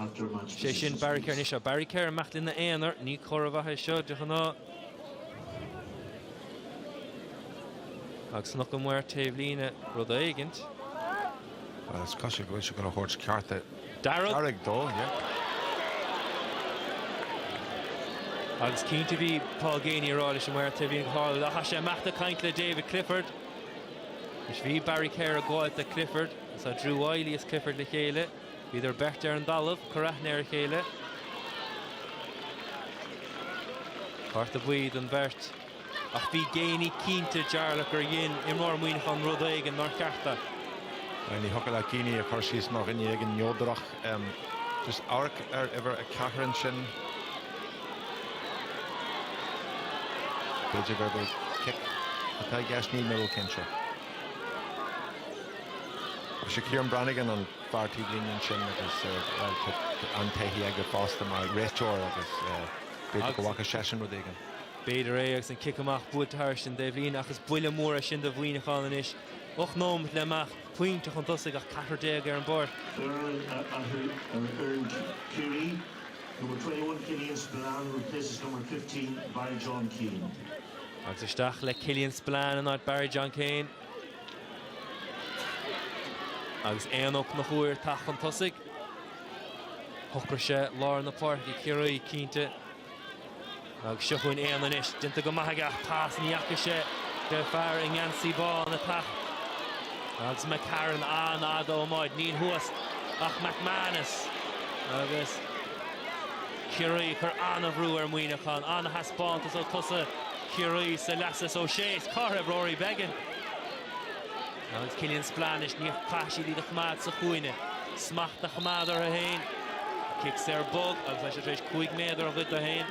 sé sin Barry Kerr. Anois tá Barry Kerr amach ina aonar, ní comhartha maith é seo de ghnáth. Agus nach maor taobh líne rud éigint. Agus cad sé go bhfuil sé chun a thabhairt cárta dearg dó, yeah. Agus cinnte bhí Paul Geaney ag rá leis an maor taobh líne tharla tá sé amach ag caint le David Clifford. Is bhí Barry Kerr ag gabháilt le Clifford, is Drew Wylie is Clifford le chéile. Bhíodar beirt ar an dtalamh, cor aithne ar a chéile. Cárta buí don bheirt. Ach bhí Geaney cinnte, Jarlath, gur dhein imreoir Mhuineacháin rud éigin nár cheart dó. Bhuel, ní thiocfadh leat Geaney a chur síos mar dhuine éigin neodrach. Just amharc ar uimhir a ceathair ansin. B'fhéidir gurb é cic atá i gceist, níl mé róchinnte. Is é Kieran Brannigan an fear taobhlíne ansin agus bhuel tá an-taithí aige fosta mar réiteoir agus b'fhéidir go bhfaca seisean rud éigin. B'fhéidir é agus an cic amach buailte thar an dtaobhlíne agus is buille mór é sin do Mhuineachán anois. Ocht nóimeat le himeacht, pointe chun tosaigh ach ceathrar déag ar an bpáirc. Foireann a athrú ar fhoireann Chiarraí, number 21 Killian Spillane replaces number 15 Barry John Keane. Agus isteach le Killian Spillane in áit Barry John Keane. Agus Joe Ó Conchúir ag teacht chun tosaigh. Shocraigh sé lár na páirce Ciarraí cinnte. Agus seo chugainn é anois. Déanta go maith aige ach pas ní fhaca sé an fear i ngeansaí bán ag teacht. Agus McCarron an-fhada ón adhmad. Níl thuas ach McManus agus Ciarraí ag cur an-bhrú ar Mhuineachán. An-thaispeántas ó thosaithe Chiarraí sa leath seo, Ó Sé is Clifford ar Rory Beggan. Agus Killian Spillane anois níos fearr iad a choimeád sa chúinne. Smacht a choimeád orthu féin. Cic saor bog agus tá siad tar éis cúig méadar a ghoid dó féin.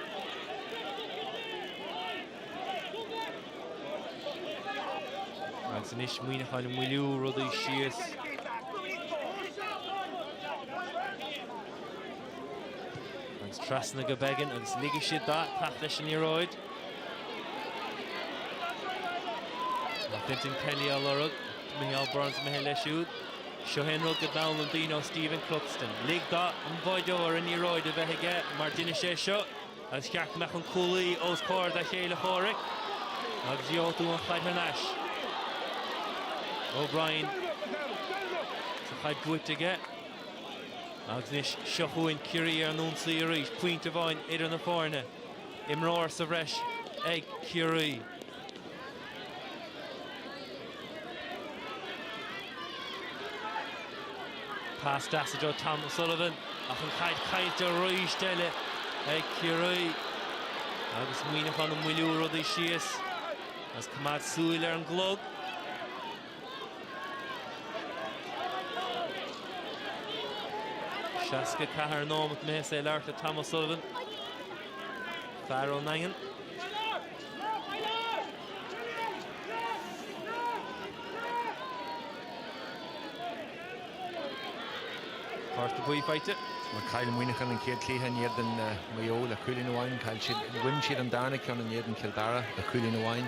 Agus anois Muineachán ag moilliú rudaí síos. Agus trasna go Beggan agus ligfidh siad dó teacht leis an liathróid. Ach Fintan Kelly á lorg, Micheál Burns imithe leis siúd. Seo é an rud go d'fhoghlaim daoine ó Stephen Cluxton. Lig don bháideoir an liathróid a bheith aige mar duine sé seo agus ceart go mbeadh an cúlaí os comhair a chéile comhraic agus gheobhaidh tú an chaid thar n-ais. O'Brien is an chaid buaite aige. Agus anois, seo chugainn Ciarraí ar an ionsaí arís, pointe amháin idir na foirne. Imreoir sa bhreis ag Ciarraí. Pas deas do Tom O'Sullivan ach an chaid caillte arís eile ag Ciarraí agus Muíneachán ag moilliú rudaí síos agus coimeád súil ar an gclog. Seasca a ceathair nóimeat imithe is é ag labhairt le Tom O'Sullivan, fear ón nDaingean. Cárta buí faighte. Mar chaill Muineachán an chéad chluiche in éadan Maigh Eo le cúilín amháin, chaill siad, bhain siad an darna ceann in éadan Chill Dara le cúilín amháin.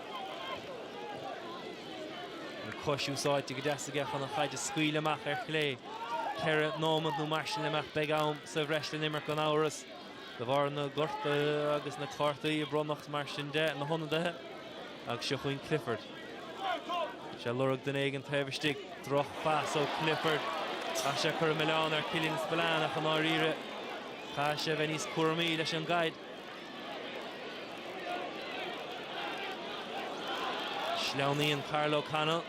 Cos úsáidte go deas aige chun an chaid a scaoileadh amach ar chlé. Ceithre nóimead nó mar sin le imeacht. Beidh am sa bhreis le n-imirt gan amhras. De bharr na gortuithe agus na cártaí a bronnadh mar sin de na hionadaithe. Agus seo chugainn Clifford. Sé lorg duine éigin taobh istigh. Droch phas ó Clifford. Tá sé ag cur milleán ar Killian Spillane ach i ndáiríre caithfidh sé a bheith níos cúramaí leis an gcaid. Sleamhnaíonn Karl O'Connell.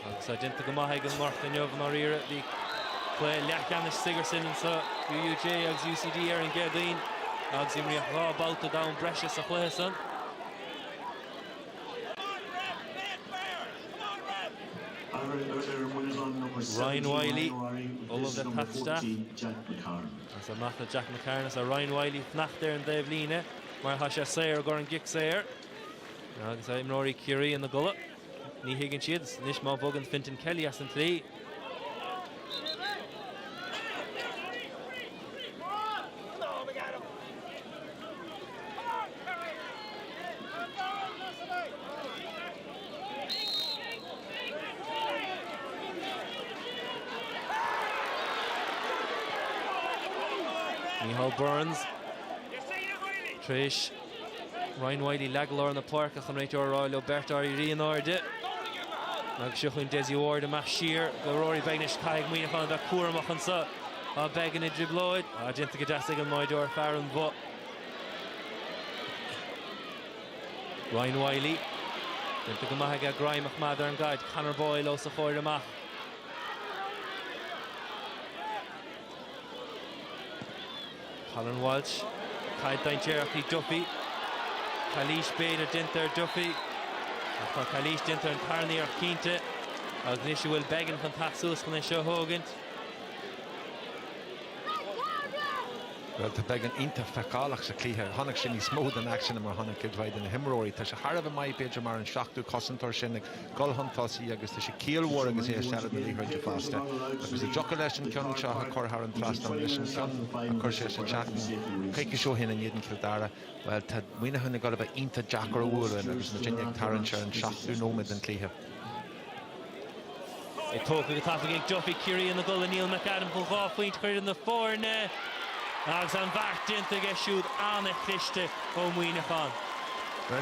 Agus tá déanta go maith ag an gCárthach inniu i ndáiríre. Bhí cluiche leathcheannais Sigerson ansan UUJ agus UCD ar an gCéadaoin agus imríodh dhá babhta d'am breise sa chluiche san. Ryan Wylie, Ollamh le Taifeadadh. Is amach le Jack McCarron, is tá Ryan Wylie ag fanacht ar an dtaobh líne mar tá sé saor i gcomhair an gcic saor. Agus imreoirí Ciarraí ina gcodladh, ní thuigeann siad, is anois má bhogann Fintan Kelly as an tslí, Mícheál Burns tar éis Ryan Wylie a leagadh i lár na páirce tá an réiteoir a rá leo beirt éirí in airde. Agus seo chugainn Dessie Ward amach siar go Rory Beggan anois caithfidh Muineachán bheith cúramach anso Beggan i dtriblóid ach déanta go deas ag an mbáideoir fear an Bhoth. Ryan Wylie. Déanta go maith aige greim a choimeád ar an gcaid. Conor Boyle os a chomhair amach. Colin Walsh. Caid dainséarach í do Duffy. Cailís b'fhéidir déanta ar Duffy. Ach tá cailís déanta ar an tarna fear cinnte. Agus anois an bhfuil Beggan chun tacht suas chun é seo a thógaint. Bhuel, tá Beggan iontach feiceálach sa chluiche. Chonaic sé níos mó den aicsean ná mar a chonaic cuid mhaith de na himreoirí. Tá sé thar a bheith maith, b'fhéidir mar an seachtú cosantóir sin ag dul chun tosaigh agus tá sé ciall mhór agus é i seilbh na liathróide fosta. Agus dá dtiocfadh leis an ceann seo a chur thar an trasnán leis an ceann a chuir sé seachtain nó coicís ó shin in éadan Cill Dara, bhuel, tá Muineachán ag dul a bheith iontach deacair a bhualadh agus muidinne ag tarraingt ar an seachtú nóiméad den chluiche. Ach tógtha go tapaidh ag Duffy, Ciarraí ina gcodladh, Neil McAdam chun dhá phointe a chur idir na foirne agus an bheart déanta aige siúd ana-chliste ó Mhuineachán.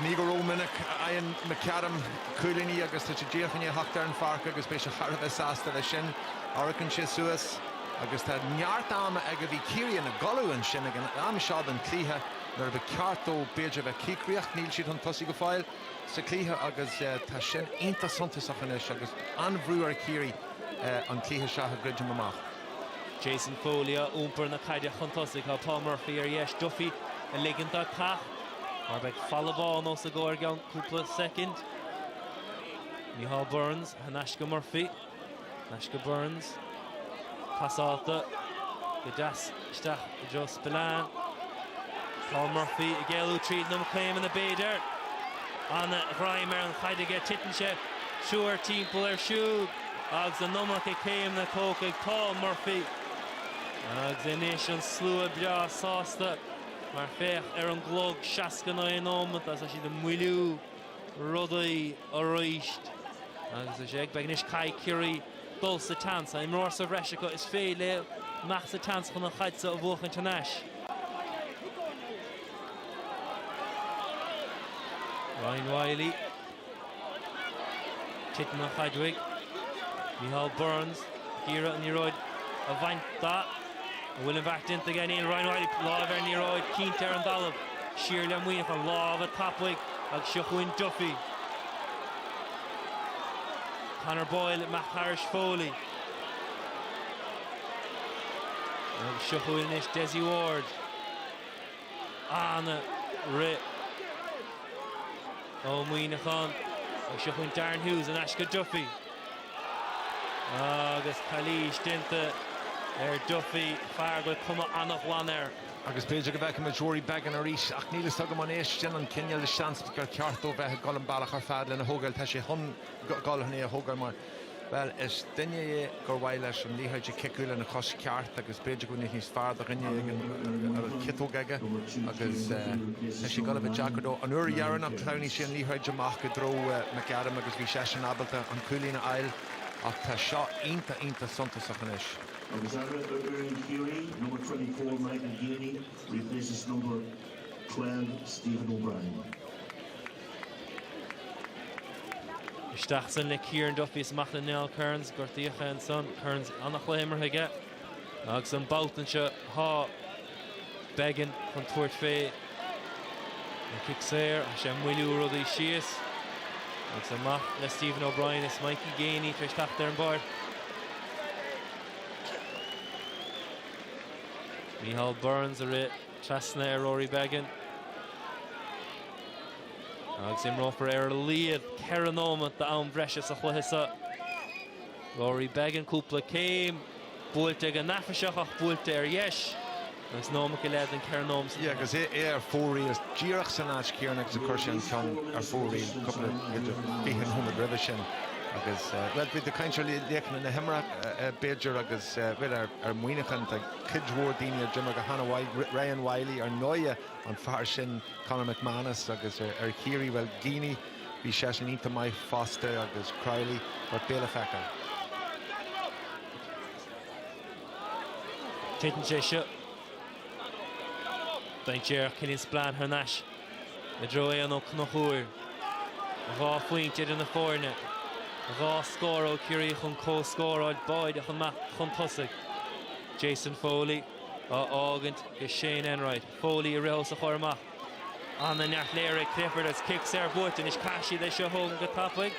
Ní go rómhinic a fhaigheann McAdam cúilíní agus tá sé díreach i ndiaidh a theacht ar an pháirc agus beidh sé thar a bheith sásta leis sin. Amharcann sé suas agus tá neart ama aige. Bhí Ciarraí ina gcodladh ansin ag an am seo den chluiche nuair ba cheart dó b'fhéidir a bheith cíocrach. Níl siad chun tosaigh go fóill. sa cluiche agus tá sin iontach suntasach anois agus an-bhrú ar Chiarraí an cluiche seo a dhruidim amach. Jason Foley ag iompar na caide chun tosaigh. Tá Paul Murphy ar dheis. Duffy ag ligint dó teacht mar beidh falla bán os a gcomhair i gceann cúpla soicind. Micheál Burns thar n-ais go Murphy. Ais go Burns, passáilte go deas isteach i dtreo Spillane. Paul Murphy ag éalú tríd na céimeanna b'fhéidir. Ana ghreim ar an chaid aige, titeann triúr timpeall air siúd agus an iomarca céimeanna tógtha ag Paul Murphy. Agus anois an slua breá sásta mar féach ar an gclog, 69 nóimeat agus tá siad ag moilliú. rudaí arís agus is é ag Beggan anois caithfidh Ciarraí dul sa tseans tá imreoir sa bhreis acu is féidir leo imeacht sa tseans chun an chaid so a bhuachaint anois. Ryan Wylie titeann an chaid uaidh. Micheál Burns ag iarraidh an liathróid a bhaint de. An bhfuil an bheart déanta aige? Níl. Ryan Wylie, láimh ar an liathróid, cinnte ar an dtalamh. Siar le Muineachán. Lámha tapaidh agus seo chugainn Duffy. Conor Boyle, marcálta ag Foley. Agus seo chugainn anois Dessie Ward. Ana rith ó Muineachán. Agus seo chugainn Darren Hughes, in aisce Duffy. Agus calaois déanta ar Duffy, fear a bhfuil cuma an-ghlan air. Agus b'fhéidir go bhfeicfimid Rory Beggan arís. Ach níl fhios agam an é sin an cineál de seans gur ceart dó bheith ag dul an bealach ar fad lena thógail. Tá sé chun dul chun é a thógail mar, bhuel, is duine é gur mhaith leis an liathróid a chiceáil lena chos ceart agus b'fhéidir go mbeadh níos fearr do dhuine éigin a bhfuil ciotóg aige agus tá sé ag dul a bheith deacair dó. An uair dheireanach shleamhnaigh sé an liathróid amach i dtreo McAdam agus. Bhí seisean ábalta an cúilín a fháil ach tá seo iontach iontach suntasach anois. Agus athrú ar fhoireann Chiarraí, number twenty four Michael Geaney replaces number twelve Stephen O'Brien. Isteach ansin le Kieran Duffy is amach le Niall Kearns. Gortaíodh é ansan. Kearns, an-chluiche imeartha aige. Agus an babhta anseo tá Beggan chun tabhairt fé an cic saor, tá sé ag moilliú rudaí síos agus amach le Stephen O'Brien is Mikey Geaney tar éis teacht ar an bpáirc. Micheál Burns a rith trasna ar Rory Beggan. Agus imreofar ar a laighead ceithre nóimeat d'am breise sa chluiche seo. Rory Beggan cúpla céim. Buailte go neafaiseach ach buailte ar dheis agus nóiméad go leith den ceithre nóiméad. Yeah, agus é ar fóraoil díreach san áit chéanna agus a chuir sé an ceann ar fóraoil cúpla fiche nóiméad roimhe sin agus eh, bhuel bíonn tú ag caint ar laoch na himeartha eh, b'fhéidir agus eh, bhuel ar, ar Mhuineachán tá cuid mhór daoine a d'imir go hana mhaith, Ri- Ryan Wylie ar ndóighe, an fear sin Conor McManus agus ar, ar Chiarraí, bhuel Geaney, Bhí seisean iontach maith fosta agus Crowley ach beidh le feiceáil. Titeann sé seo déanta ag Killian Spillane thar n-ais i dtreo Eoghan Ó Conchubhair. Dhá phointe idir na foirne. Dhá scór ó Chiarraí chun comhscór a fháil, báid chun maith chun tosaigh. Jason Foley á fhágaint go Shane Enright. Foley i rith os a chomhair amach. Ana neart léirithe ag Clifford agus cic saor buaite anois. Caithfidh siad é seo a thógaint go tapaidh.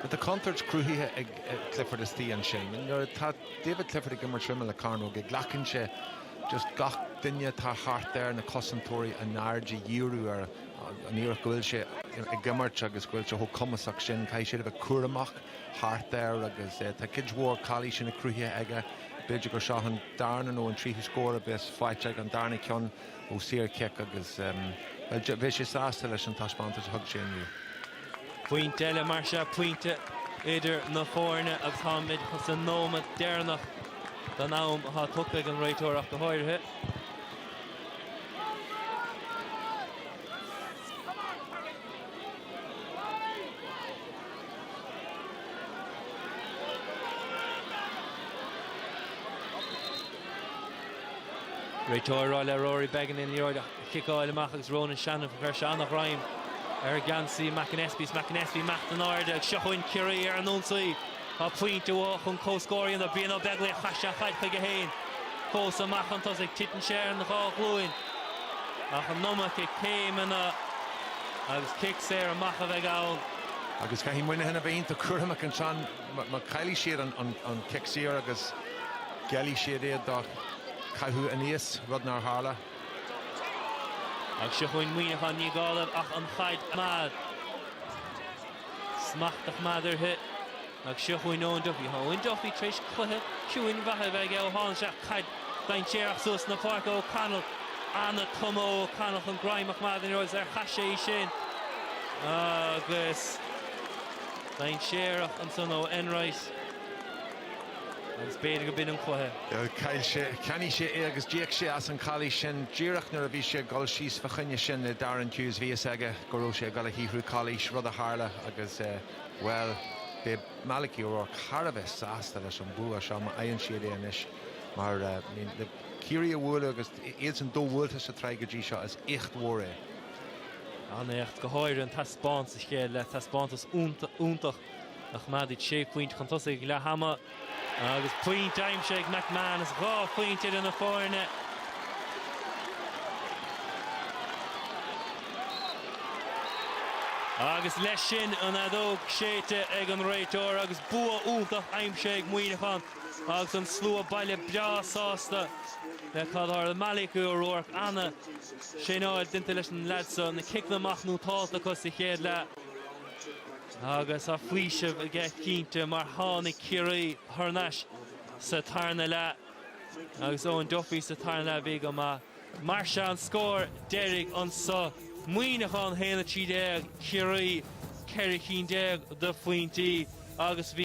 Tá contúirt cruthaithe ag Clifford istigh ansin. Nuair atá David Clifford ag imirt ar imeall na cearnóige, glacann sé just gach duine atá thart air, na cosantóirí, a n-aird a dhíriú air. ar an ábhar go bhfuil sé ag imirt agus go bhfuil sé chomh cumasach sin, caithfidh siad a bheith cúramach. thart air agus eh tá cuid mhór calaoiseanna cruthaithe aige. B'fhéidir gur seo an darna nó an tríú scór a bheas faighte aige, an darna ceann ó saor cic agus em bhuel beidh sé sásta leis an taispeántas a thug sé inniu. Pointe eile mar seo, pointe idir na foirne agus táimid sa nóimeat deireanach den am atá tugtha ag an réiteoir ach go háirithe. Réiteoir ag rá le Rory Beggan an liathróid a chiceáil amach agus Ronan Shanahan, fuair sé an-ghreim ar gheansaí McAnespie. Is McAnespie ag imeacht in airde. Ag seo chugainn Ciarraí ar an ionsaí. Tá pointe uathu chun comhscóir a dhéanamh, Brian Ó Beaglaoich chaith sé an chaid chuige féin fós amach chun tosaigh. Titeann sé ar an dhá ghlúin ach an iomarca céimeanna agus cic saor amach a bheidh ann. Agus caithfidh Muineachán a bheith iontach cúramach ansan mar caillfidh siad an cic saor agus geallfaidh siad é do chaitheamh aníos, rud nár tharla. Ag seo chugainn Muineachán, ní gá dóibh ach an chaid a choimeád. Smacht a choimeád uirthi. Ag seo chugainn Eoin Duffy. Tá Eoin Duffy tar éis cluiche ciúin mhaith a bheith aige ó tháinig sé isteach, caid dainséarach suas chun na páirce ó O'Connell. An-chuma ó O'Connell chun greim a choimeád air agus ar chaith sé í sin? Agus dainséarach ansan ó Enright. Agus b'fhéidir go b'in an cluiche. Chaill sé, cheannaigh sé é agus d'íoc sé as an chalaois sin díreach nuair a bhí sé ag dul síos fa choinne sin Darren Hughes bhí a fhios aige. go raibh sé ag dul a shaothrú calaois, rud a tharla agus, bhuel, beidh Malachy O'Rourke thar a bheith sásta leis an bua seo má fhaigheann siad é anois mar, I mean, le Ciarraí a bhualadh agus iadsan do-bhuailte sa tsraith go dtí seo, is éacht mhór é. An-éacht, go háirithe an taispeáint sa chéad leath, taispeántas iontach a choimeád iad sé phointe chun tosaigh ag leath ama. Agus pointe aimsithe ag McManus, dhá phointe idir na foirne. Agus leis sin, an fheadóg séidte ag an réiteoir agus bua iontach aimsithe ag Muineachán agus an slua baile breá sásta le cad a tharla. Malachy O'Rourke, ana-thraenáil déanta leis na leaids seo, na ciceanna amach nótálta acu sa chéad leath. Agus tá faoiseamh aige cinnte mar tháinig Ciarraí thar n-ais sa tarna leath agus Eoin Duffy sa tarna leath a bhí go maith. Mar seo an scór deiridh annso. Muineachán 1, 13, Ciarraí 14 cinn de phointí agus bhí.